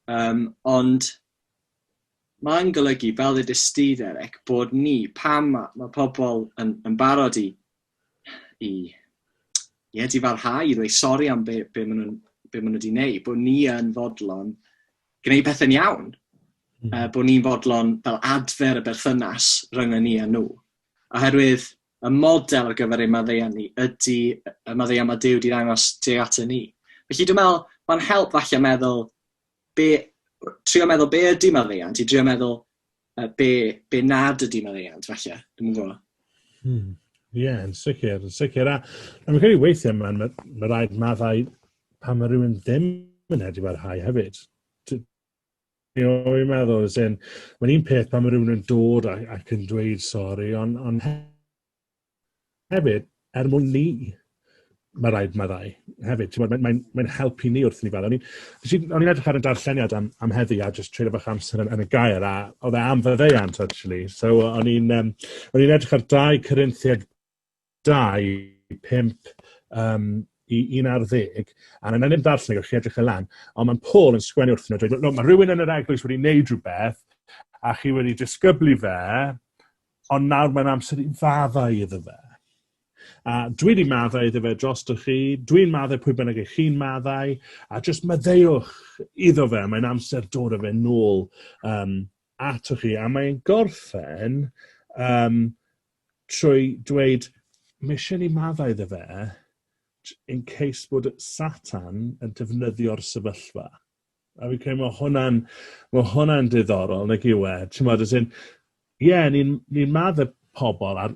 yym, ond ma'n golygu, fel ddedist ti Derek, bod ni, pan ma' ma' pobl yn yn barod i i ie, difarhau, i ddweud sori am be' be' ma' nhw'n be' ma' nhw 'di neud, bod ni yn fodlon gwneud pethe'n iawn, mm. uh, bod ni'n fodlon fel adfer y berthynas rhyngon ni a nhw. Oherwydd Y model ar gyfer ein maddeuant ni ydy y maddeuant mae Duw wedi ddangos tuag ato ni. Felly dwi'n meddwl, mae'n help falle meddwl, be, trio meddwl be ydy maddeuant, i drio meddwl uh, be, be nad ydy maddeuant, falle. Dwi'n meddwl. Hmm. Ie, yeah, yn sicr, yn sicr. A, a mae'n credu weithiau, mae'n ma, ma rhaid maddau pan mae rhywun ddim yn edrych ar hau hefyd. You know what I meddwl? As in, mae'n un peth pan mae rhywun yn dod ac, ac yn dweud sori, ond on hefyd, er mwyn ni, mae rhaid maddau hefyd. Ti'n Mae'n mae, mae helpu ni wrth ni fel. O'n i'n edrych ar y darlleniad am, am heddi a just treulio bach amser yn, yn y gair a oedd e am faddeuant actually. So o'n i'n um, edrych ar 2 Corinthiad 25, um, i 11, a na ddim darllen gyda chi edrych y lan, ond mae'n Paul yn sgwennu wrth nhw, dweud, no, mae rhywun yn yr eglwys wedi wneud rhywbeth, a chi wedi disgyblu fe, ond nawr mae'n amser i faddau iddo fe. A dwi wedi maddau iddo fe dros dy chi, dwi'n maddau pwy bynnag eich chi'n maddau, a jyst maddeuwch iddo fe, mae'n amser dod o fe nôl um, atoch chi, a mae'n gorffen um, trwy dweud, mae eisiau ni maddau iddo fe, in case bod Satan yn defnyddio'r sefyllfa. A fi'n credu mae hwnna'n ma hwnna diddorol, nag yw e? Ti'n meddwl, as in, ie, yeah, ni'n ni, maddau pobl, a,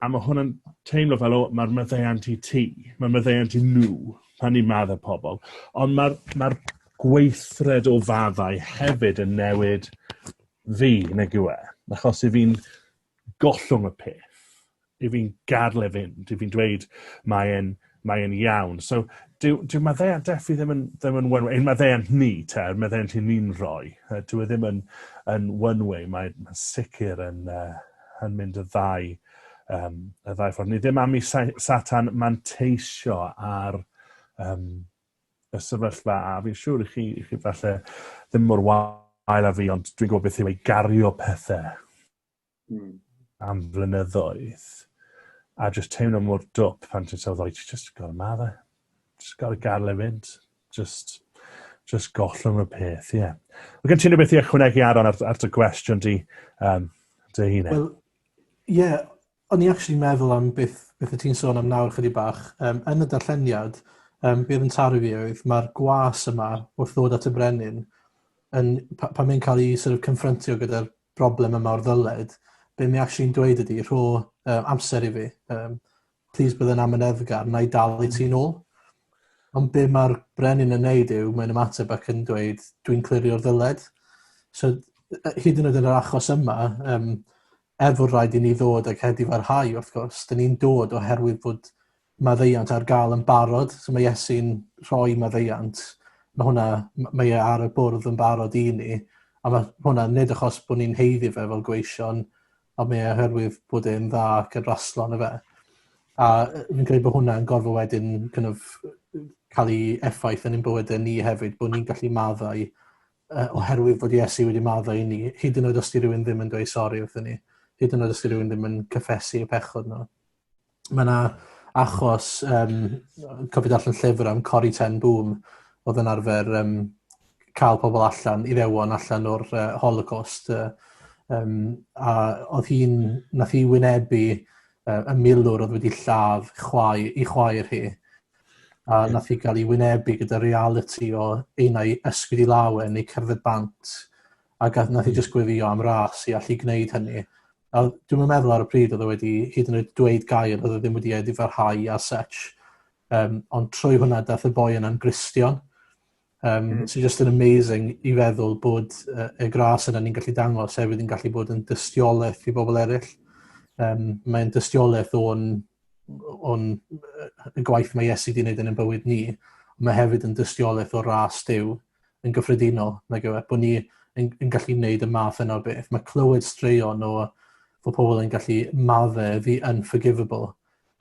a mae hwnna'n teimlo fel, o, mae'r maddeuant i ti, mae'r maddeuant i nhw, pan ni'n maddau pobl. Ond mae'r ma gweithred o faddau hefyd yn newid fi, nag yw e? Achos i fi'n gollwng y peth, i fi'n gadl e fynd, i fi'n dweud mae e'n mae e'n iawn. So, dyw, dyw maddeuant Defi ddim yn, ddim yn one-way, ein maddeuant ni, te, yr maddeuant i ni'n rhoi, uh, dyw e ddim yn, yn one-way, mae'n ma sicr yn, uh, yn mynd y ddau, um, y ddau ffordd. Ni ddim am i satan manteisio ar um, y sefyllfa a fi'n siŵr i chi, i chi falle ddim mor wael a fi ond dwi'n gwybod beth yw ei gario pethau mm. am flynyddoedd a just teimlo mor dwp pan ti'n sylwi o'i ti just gorau ma fe. Just gorau gael ei fynd. Just, just gollwng y peth, ie. Yeah. Mae gen ti'n rhywbeth i ychwanegu Aaron ar, ar dy gwestiwn di, um, dy hun? E? Wel, ie, yeah, O'n i actually meddwl am beth beth o' ti'n sôn am nawr chydig bach, yym yn y darlleniad yym be' odd yn taru fi oedd ma'r gwas yma wrth ddod at y brenin yn pa- pan mae'n cael ei sort of confrontio gyda'r broblem yma o'r ddyled be' mae actually'n dweud ydi rho uh, amser i fi um, plîs bydd yn amyneddgar na i dal i ti'n ôl ond be' mae'r brenin yn neud yw mae'n ymateb ac yn dweud dwi'n clirio'r ddyled so hyd yn oed yn yr achos yma um, Er fod rhaid i ni ddod ag hedd i farhau, wrth gwrs, dyn ni'n dod oherwydd fod maddeuant ar gael yn barod, so mae Iesu'n rhoi maddeuant, mae hwnna, mae e ar y bwrdd yn barod i ni, a mae hwnna nid achos bod ni'n heiddi fe fel gweision, ond mae e oherwydd bod e'n dda ac yn raslo yn y fe. A fi'n credu bod hwnna'n gorfod wedyn kind of, cael ei effaith yn ein bywydau ni hefyd, bod ni'n gallu maddau uh, oherwydd fod Iesu wedi maddo i ni, hyd yn oed os di rhywun ddim yn dweud sori wrthyn ni, hyd yn oed os di rhywun ddim yn cyffesu y pechod nhw. Mae yna achos, um, cofio allan llyfr am Cori Ten Boom, oedd yn arfer um, cael pobl allan, i ddewon allan o'r uh, holocaust. Uh, um, a oedd hi'n, nath hi wynebu uh, y milwr oedd wedi lladd chwae, i chwaer hi. a nath hi gael ei wynebu gyda realiti o un o'i ysgwyd i law yn ei cerdded bant a gath, nath hi just gwefio am ras i allu gwneud hynny. A dwi'n meddwl ar y pryd oedd e wedi hyd yn oed dweud gair, oedd e ddim wedi ei ddifarhau a such. Um, ond trwy hwnna dath y boi yna'n gristion. Um, mm. Sy'n just yn amazing i feddwl bod uh, y gras yna ni'n gallu dangos hefyd yn gallu bod yn dystiolaeth i bobl eraill. Um, mae'n dystiolaeth o'n, on, y gwaith mae Iesu wedi gwneud yn y bywyd ni. Mae hefyd yn dystiolaeth o'r ras dew yn gyffredinol, nag yw e, bod ni yn, yn gallu gwneud y math yna o beth. Mae clywed straeon o fod pobl yn gallu maddau the unforgivable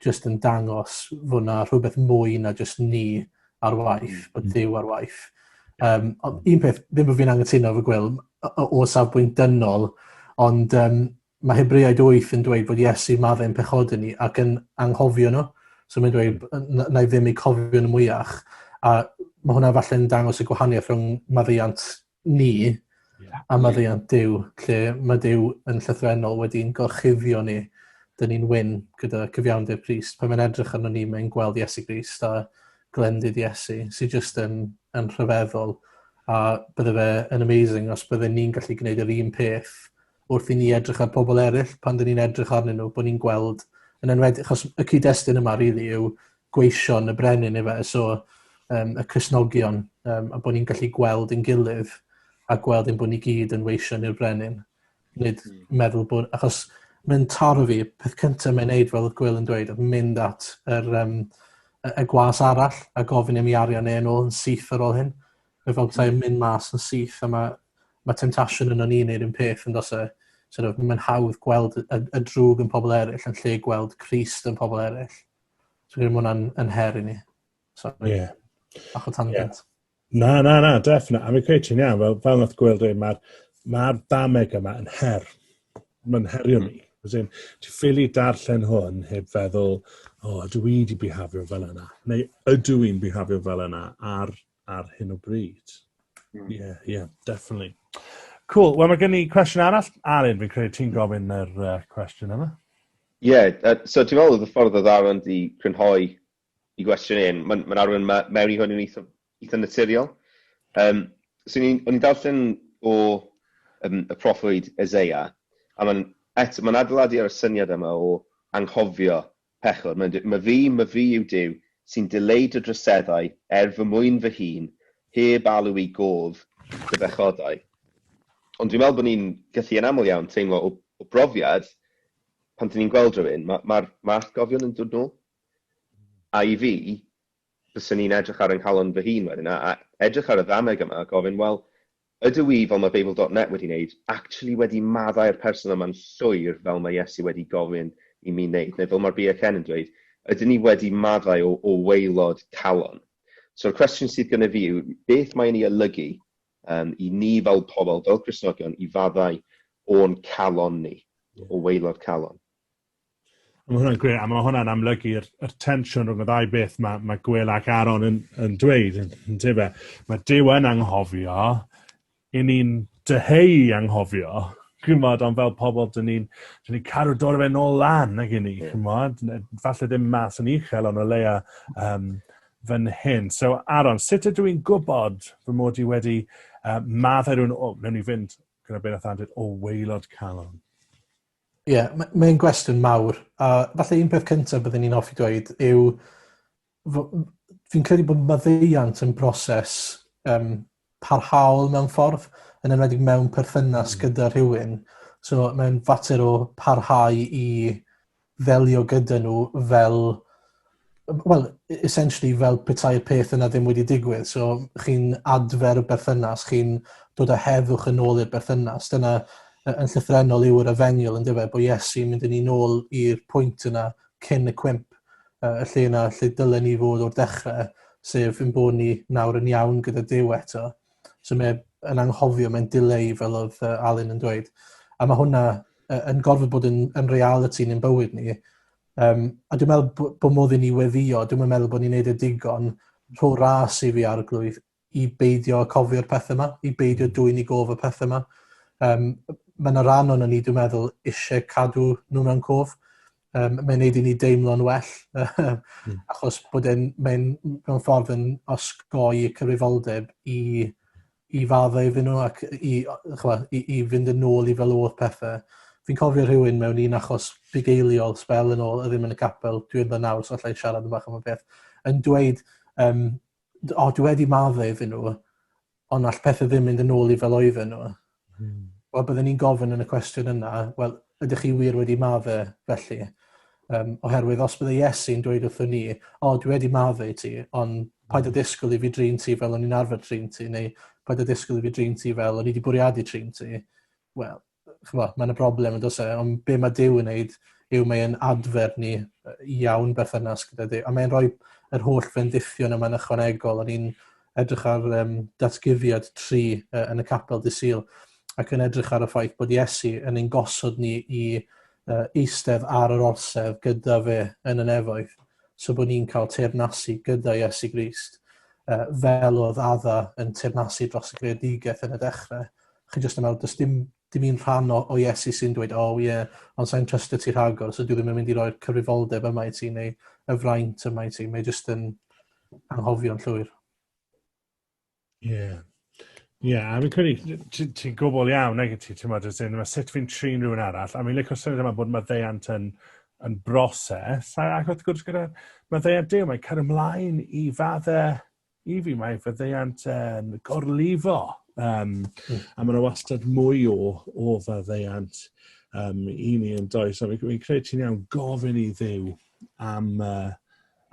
jyst yn dangos fod na rhywbeth mwy na jyst ni ar waith, mm. bod Duw ar waith. Um, ond un peth, ddim bod fi'n angytuno fy gwil, o safbwynt dynol, ond um, mae Hebreaid 8 yn dweud bod Iesu maddau yn pechod ni ac yn anghofio nhw. So mae'n dweud, mm. na i ddim eu cofio nhw mwyach. A mae hwnna falle yn dangos y gwahaniaeth rhwng maddeiant ni a maddeuant Duw, lle mae Duw yn llythrennol wedi'n gorchuddio ni, dyn ni'n wyn gyda cyfiawnder Crist. Pan mae'n edrych arno ni, mae'n gweld Iesu Grist a glendid Iesu, sy'n just yn, yn rhyfeddol. A bydde fe yn amazing os bydde ni'n gallu gwneud yr un peth wrth i ni edrych ar pobl eraill pan dyn ni'n edrych arnyn nhw, bod ni'n gweld yn enwedig, achos y cyd-destun yma rili really, yw gweision y brenin efe, so um, y Cresnogion, um, a bod ni'n gallu gweld yn gilydd a gweld yn bod ni gyd yn weision i'r brenin. Nid hmm. meddwl bod, achos mae'n taro fi, peth cyntaf mae'n neud fel oedd Gwyl yn dweud, oedd mynd at yr, um, y, y gwas arall a gofyn i mi arian ei yn ôl yn syth ar ôl hyn. Mae fel bethau yn hmm. mynd mas yn syth a mae, mae temptation yn o'n i'n neud yn peth yn dos e. So, mae'n hawdd gweld y, y drwg yn pobl eraill yn lle gweld Christ yn pobl eraill. Dwi'n gwneud hwnna'n yn her i ni. Sorry. Yeah. Bach o tangent. Yeah. Na, na, na, definite. A fi'n credu ti'n iawn, fel, fel nath gweld ei, mae'r ma dameg yma yn her. Mae'n herio mi. Ti'n ffili darllen hwn heb feddwl, o, oh, ydw i wedi bihafio fel yna? Neu ydw i'n bihafio fel yna ar ar hyn o bryd. Mm. Yeah, yeah, definitely. Cool. Wel, mae gen i cwestiwn arall. Alun, fi'n credu ti'n gofyn yr uh, cwestiwn yma. Ie, yeah, uh, so ti'n meddwl oedd y ffordd o ddarwyn di crynhoi i gwestiwn un, mae'n ma arwain ma, mewn i hwn yn eitha, eitha naturiol. Um, so o'n i'n darllen o um, y proffwyd Ezeia, a mae'n ma adeiladu ar y syniad yma o anghofio Pechod, mae'n dweud, my fi, my fi yw Duw, sy'n dileu dy droseddau er fy mwyn fy hun, heb alw i gof dy bechodau. Ond dwi'n meddwl bod ni'n gallu yn aml iawn teimlo o, o brofiad, pan dyn ni'n gweld rhywun, mae'r ma, ma, ma atgofion yn dod nôl. A i fi, byswn i'n edrych ar yng nghalon fy hun wedyn, a, a edrych ar y ddameg yma a gofyn, wel, Ydw i, fel mae Beibl dot net wedi wneud, actually wedi maddau'r person yma'n llwyr fel mae Iesu wedi gofyn i mi wneud? Neu fel mae'r BHN yn dweud, ydyn ni wedi maddau o, o waelod calon? So'r cwestiwn sydd gyda fi yw, beth mae'n ei olygu um, i ni fel pobl, fel Cristnogion, i faddau o'n calon ni, o waelod calon? Mae hwnna'n gre, a mae hwnna'n amlygu'r y tensiwn rhwng y ddau beth mae, mae Gwyl ac Aaron yn, yn dweud, yn, yn tefe. Mae Dyw yn anghofio, i ni'n dyheu i anghofio, chymod, ond fel pobl, dyn ni'n ni cadw dod o fe nôl lan ag i ni, yeah. chymod, falle ddim mas yn uchel, ond o leia um, fan hyn. So, Aaron, sut ydw i'n gwybod fy mod i wedi uh, maddau rhywun, o, newn ni fynd gyda beth oedd dweud, o weilod calon. Ie, m- mae'n gwestiwn mawr a falle un peth cyntaf byddwn ni'n offi dweud yw fy- m- fi'n credu bod maddeuant yn broses um, parhaol mewn ffordd, yn enwedig mewn perthynas mm. gyda rhywun. So mae'n fater o parhau i ddelio gyda nhw fel Wel, e- essentially fel petai'r peth yna ddim wedi digwydd. So chi'n adfer y berthynas, chi'n dod â heddwch yn ôl i'r berthynas. Dyna yn llythrenol yw'r efengyl yn dyfa, bod Iesu'n mynd yn ei nôl i'r pwynt yna cyn y cwymp, uh, y lle yna lle dylen ni fod o'r dechrau, sef yn bod ni nawr yn iawn gyda Dyw eto. So mae yn anghofio, mae'n dileu fel oedd uh, Alun yn dweud. A mae hwnna uh, yn gorfod bod yn, yn reality ni'n bywyd ni, Um, a dwi'n meddwl bod modd i ni weddio, dwi'n meddwl bod ni'n neud y e digon rho ras i fi arglwydd i beidio cofio'r pethau yma, i beidio dwy'n i gof y pethau yma. Um, mae yna rhan o'n ni, dwi'n meddwl, eisiau cadw nhw mewn cof. Um, mae'n neud i ni deimlo'n well, hmm. achos bod e'n, mae'n mewn ffordd yn osgoi cyfrifoldeb i i faddau iddyn nhw ac i, chwa, i, i fynd yn ôl i fel oedd pethau. Fi'n cofio rhywun mewn un achos bugeiliol spel yn ôl, ddim yn y capel, dwi'n dda nawr, so allai siarad yn bach am y peth, yn dweud, um, o, dwi wedi maddau iddyn nhw, ond all pethau ddim mynd yn ôl i fel oedden nhw. Hmm. Wel, byddwn ni'n gofyn yn y cwestiwn yna, wel, Ydych chi wir wedi maddau, felly? Um, oherwydd os bydde Iesu'n dweud wrthyn ni, o, dwi wedi maddau ti, ond paid â disgwyl i fi drin ti fel o'n i'n arfer trin ti, neu paid â disgwyl i fi drin ti fel o'n i wedi bwriadu trin ti, wel, chyfo, mae yna broblem yn dosau, e, ond be mae Dyw yn neud yw mae'n adfer ni iawn berthynas gyda Dyw, a mae'n rhoi yr holl fendithion yma'n ychwanegol, a ni'n edrych ar um, datguddiad tri uh, yn y capel dy syl, ac yn edrych ar y ffaith bod Iesu yn ein gosod ni i uh, eistedd ar yr orsedd gyda fe yn y nefoedd, so bod ni'n cael teyrnasu gyda Iesu Grist, uh, fel oedd adda yn teyrnasu dros y greadigaeth yn y dechrau. Chi jyst yn meddwl, does dim dim un rhan o, o Iesu sy'n dweud, o oh, ie, yeah, ond sa'n trystio ti rhagor, so dwi ddim yn mynd i roi'r cyfrifoldeb yma i ti, neu y fraint yma i ti. Mae jyst yn, anghofio'n llwyr. Ie. Yeah. Ie, yeah, a fi'n credu, ti'n ti gwbl iawn, nag ti, ti'n meddwl, ti'n meddwl, sut fi'n trin rhywun arall, a fi'n licio syniad yma bod mae ddeiant yn, yn broses, a ac wrth gwrs gyda, mae ddeiant dew, mae'n cael ymlaen i fadde, i fi, mae fy ddeiant yn gorlifo, um, mm. a mae'n wastad mwy o, o fy ddeiant um, i ni yn does, a fi'n fi credu ti'n iawn gofyn i ddew am, uh,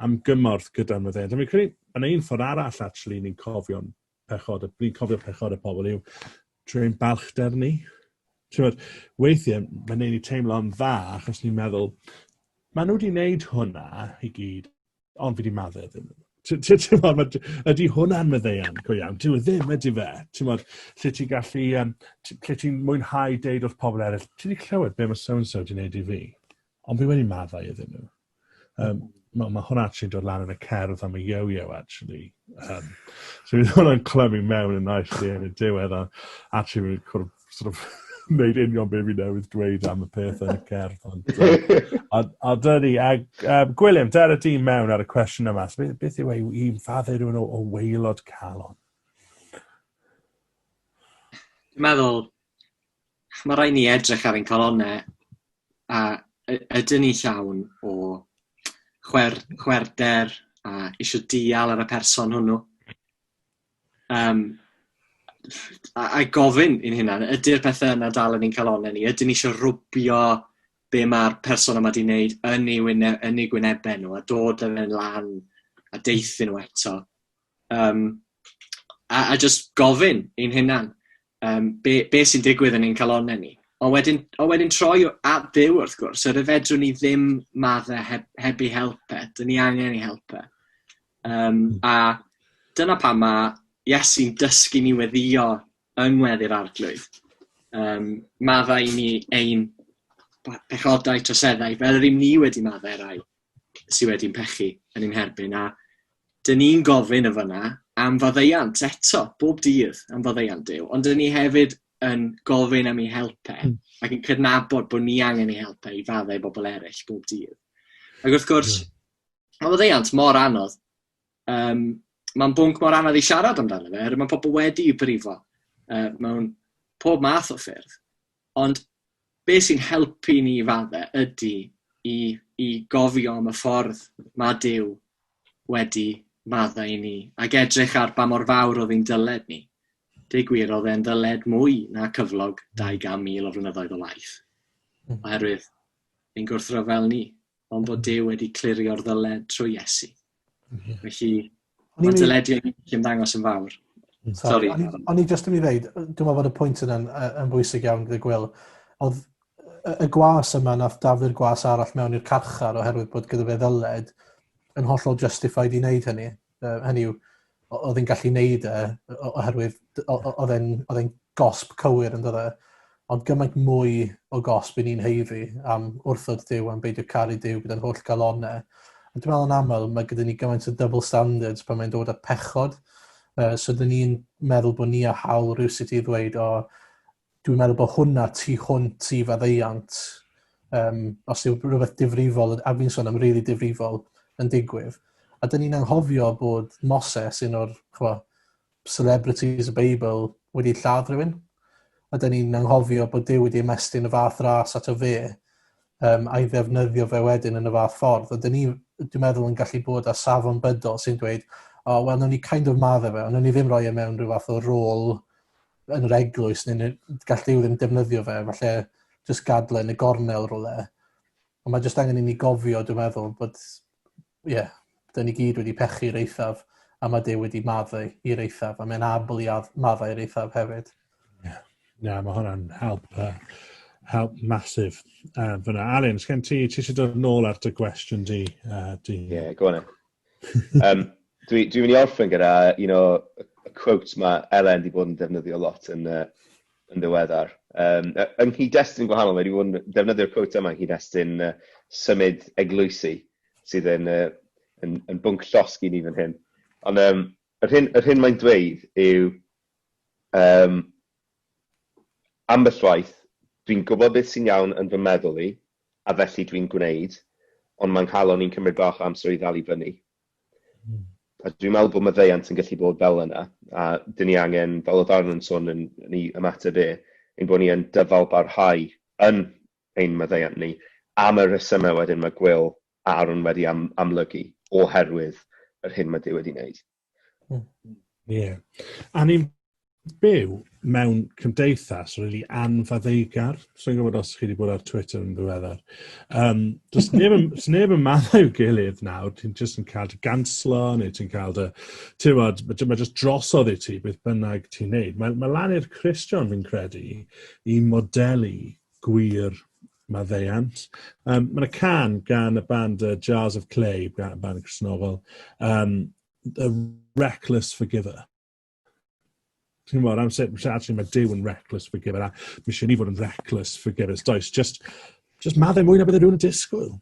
am gymorth gyda'r maddeuant. A fi'n credu, yn ein ffordd arall, actually, ni'n cofio'n pechod, ni'n cofio pechod y pobl yw trwy ein balchder ni. Trwy'r weithiau, mae'n ei ni teimlo'n dda, achos ni'n meddwl, maen nhw wedi wneud hwnna i gyd, ond fi wedi maddau iddyn nhw. Ydy hwnna'n meddeuan go iawn? Dyw e ddim, ydy fe? Tymod, lle ti'n gallu, um, lle ti'n mwynhau deud wrth pobl eraill, ti wedi clywed be mae so-and-so wedi gwneud i fi? Ond fi wedi maddau iddyn nhw. Um, Mae ma hwnna actually dod lan yn y cerdd am y yo-yo actually. Um, so bydd hwnna'n clymu mewn yn naill lle yn y diwedd a actually fi'n cwrdd sort of wneud union beth fi newydd dweud am y peth yn y cerdd. Ond, a, a dydy, a, a Gwilym, dyna di mewn ar y cwestiwn yma. So, beth yw ei un faddau rhywun o, o weilod calon? Dwi'n meddwl, Mae rhaid ni edrych ar ein calonnau a y- ydyn ni llawn o chwer- chwerwder a eisiau dial ar y person hwnnw. Um, a, a gofyn i'n hunan, ydy'r pethau yna dal yn ein calonnau ni? Ydyn ni eisiau rwbio be mae'r person yma wedi wneud yn ei, wyne, yn ei gwynebau nhw a dod yn yn lan a deithio nhw eto? Yym, a a jyst gofyn i'n hunan, yym, be' be' sy'n digwydd yn ein calonnau ni? Ond wedyn ond wedyn troi o- at Dduw, wrth gwrs, yr y fedrwn ni ddim madde heb heb ei help e. 'Dyn ni angen ei help e. Yym, a dyna pam ma' Iesu'n dysgu ni weddïo yng ngweddi'r Arglwydd, yym, maddau i ni ein ba- pechodau, troseddau, fel yr 'yn ni wedi maddau i rai. sydd wedi'n pechu yn ein herbyn, a dyn ni'n gofyn y fyna am faddeiant eto, bob dydd am faddeiant Dyw, ond dyn ni hefyd yn gofyn am ei help e, hmm. ac yn cydnabod bod ni angen ei help e i faddau bobl eraill bob dydd. Ac wrth gwrs, yeah. Hmm. mae faddeiant mor anodd Yym, mae'n bwnc mor anodd i siarad amdano fe, oherwydd mae pobl wedi i brifo uh, mewn pob math o ffyrdd. Ond be sy'n helpu ni fadde ydy i, i gofio am y ffordd mae Dyw wedi maddau i ni, ac edrych ar ba mor fawr oedd ein dyled ni. Deu gwir, oedd e'n ddyled mwy na cyflog 200,000 o flynyddoedd o laeth, hmm. oherwydd yn gwrthryfel ni. ond bod Duw wedi clirio'r ddyled trwy Iesu. Felly, mae dyledu yn ymddangos yn fawr. Hmm. Sorry. O'n i jyst yn mynd i ddeud, dwi'n meddwl bod y pwynt yna'n yn bwysig iawn gyda Gwyl. Oedd y gwas yma, nath daflu'r gwas arall mewn i'r carchar oherwydd bod gyda fe ddyled yn hollol justified i wneud hynny. Uh, hynny yw, oedd yn gallu neud e, oherwydd oedd e'n gosb cywir yn dydde. Ond gymaint mwy o gosb i ni'n heiddi am wrthod Dyw, am beidio caru Dyw gyda'n holl galonau. A dwi'n meddwl yn aml, mae gyda ni gymaint o double standards pan mae'n dod â pechod. Uh, so, dyn ni'n meddwl bod ni a hawl rhywsut i ddweud, o, dwi'n meddwl bod hwnna tu hwnt i faddeuant, um, os yw rhywbeth difrifol, a fi'n sôn am rili really difrifol, yn digwydd. A dyn ni'n anghofio bod Moses, un o'r chwa, celebrities y Beibl, wedi lladd rhywun. A dyn ni'n anghofio bod Dyw wedi ymestyn y fath ras at o fe, um, a'i ddefnyddio fe wedyn yn y fath ffordd. A dyn ni, dwi'n meddwl, yn gallu bod â safon bydol sy'n dweud, o, oh, wel, nhw'n ni kind of madde fe, ond nhw'n ni ddim roi e mewn rhyw fath o rôl yn yr eglwys, neu gall Dyw ddim defnyddio fe, falle jyst gadle yn y gornel rolau. Ond mae jyst angen i ni gofio, dwi'n meddwl, bod, ie, yeah, dyn ni gyd wedi pechu i'r eithaf, a mae Dyw wedi maddau i'r eithaf, a mae'n abl i maddau i'r eithaf hefyd. Ie, yeah. yeah, mae hwnna'n help, uh, help masif. Uh, fyna, Alun, sgen ti, ti eisiau dod nôl ar dy gwestiwn di? Uh, di? Yeah, go on. um, Dwi'n dwi mynd i orffen gyda un o y quotes mae Elen wedi bod yn defnyddio lot yn, uh, yn ddiweddar. Um, yng nghyd-destun gwahanol, mae wedi bod yn defnyddio'r quote yma yng nghyd-destun uh, symud eglwysi sydd yn, uh, yn, yn bwnc llosg i ni fan hyn. Ond um, yr hyn, yr hyn mae'n dweud yw um, Ambell waith, dwi'n gwybod beth sy'n iawn yn fy meddwl i, a felly dwi'n gwneud, ond mae 'nghalon i'n cymryd bach o amser i ddal i fyny. A dwi'n meddwl bod maddeuant yn gallu bod fel yna, a dyn ni angen, fel oedd Arno'n sôn yn, yn ei ymateb e, ein bod ni yn dyfalbarhau yn ein maddeuant ni, am y rhesymau wedyn mae Gwyl a Aron wedi am, amlygu, oherwydd yr hyn mae Duw wedi wneud. Hmm. Ie. Yeah. A ni'n byw mewn cymdeithas really anfaddeugar. So'n gwybod os chi wedi bod ar Twitter yn ddiweddar. Um, does neb, does neb yn maddau i'w gilydd nawr. Ti'n just yn cael dy ganslo neu ti'n cael dy... Ti'n bod, mae ma just drosodd i ti beth bynnag ti'n neud. Mae, mae lan i'r Christian fi'n credu i modelu gwir maddeuant. Um, Mae yna can gan y band uh, Jars of Clay, gan band Cresnogol, um, The Reckless Forgiver. Ti'n gwybod, am sut, actually mae Dyw yn reckless forgiver, a mi eisiau ni fod yn reckless forgivers, does, just, just maddau mwy na bydde rhywun yn disgwyl.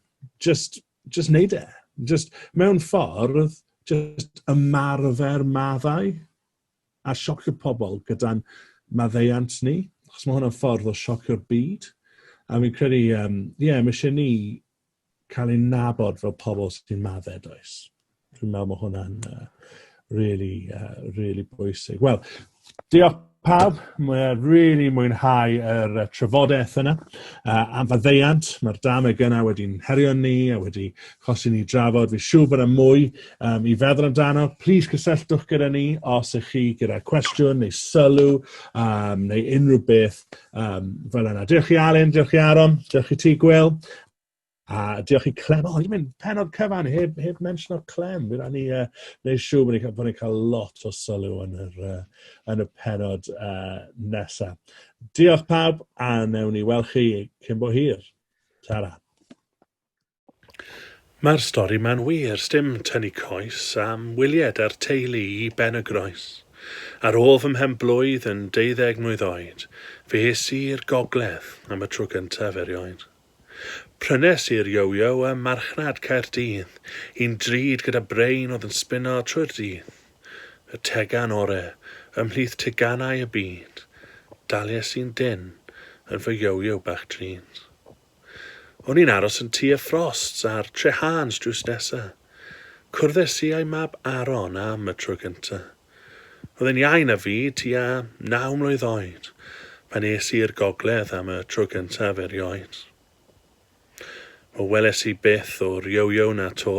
Just, just neud e. Just, mewn ffordd, just ymarfer maddau. a siocio pobl gyda'n maddeuant ni, achos mae hwnna'n ffordd o siocio'r byd, a fi'n credu, ie, um, yeah, mae eisiau ni cael ein nabod fel pobl sy'n maddau, does? Dwi'n meddwl mae hwnna'n uh, really, uh, really bwysig. Wel, diolch pawb, mae really mwynhau yr uh, trafodaeth yna uh, am faddeiant. Mae'r dameg yna wedi'n herio ni a wedi Os i ni drafod, fi siw bod yna mwy um, i feddwl amdano. Plis cysylltwch gyda ni os ych chi gyda cwestiwn neu sylw um, neu unrhyw beth um, fel yna. Diolch i Alun, diolch i Aron, diolch i ti Gwyl. A diolch i Clem. O, ni'n mynd penod cyfan heb, heb mention o Clem. Fydd ni uh, neu siw bod ni'n ni cael lot o sylw yn, yr, uh, yn y penod uh, nesaf. Diolch pawb a newn ni weld chi cyn bo hir. Ta-ra. Mae'r stori ma'n wir, sdim tynnu coes, am wylied a'r teulu i Ben-y-groes. Ar ôl fy mhen-blwydd yn deuddeg mlwydd oed, fe es i i'r gogledd am y tro gyntaf erioed. Prynes i'r yo-yo ym marchnad Caerdydd, un drud gyda brain oedd yn sbino trwy'r dydd. Y tegan ore ymhlith teganau y byd, dalies i'n dyn yn fy yo-yo bach drud. O'n i'n aros yn tŷ y Frosts ar Treharns drws nesa. Cwrddes i â'i mab Aaron am y tro gynta. Oedd e'n iau na fi, tua naw mlwydd oed, pan es i i'r gogledd am y tro gyntaf erioed. Wel, weles i byth o'r yo-yo na 'to,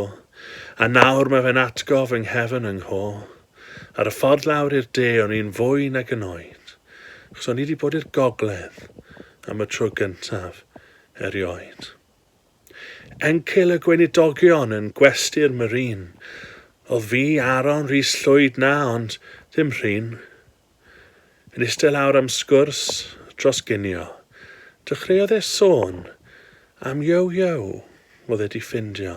a nawr mae fe'n atgof yng nghefn yng ngho. Ar y ffordd lawr i'r de o'n i'n fwy nag yn oed, achos o'n i wedi bod i'r gogledd am y tro gyntaf erioed. Encil y Gweinidogion yn gwesty'r Marine oedd fi, Aaron Rhys Llwyd na, ond dim Rhun. Yn eistedd lawr am sgwrs dros ginio, dechreuodd e sôn am Yo-Yo oedd e 'di ffindio.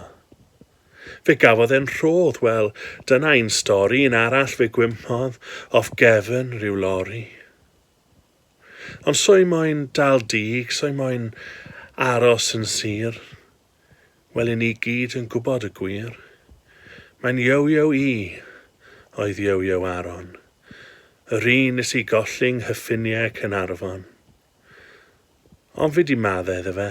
Fe gafodd e'n rhodd, wel, dyna un stori, un arall fe gwympodd off gefn ryw lori. Ond soi moyn dal dug, soi moyn aros yn sur, wel i ni gyd yn gwybod y gwir. Mae'n Yo-Yo i oedd Yo-Yo Aron, yr un nes i golli 'nghyffiniau Caernarfon. Ond fi 'di madde iddo fe,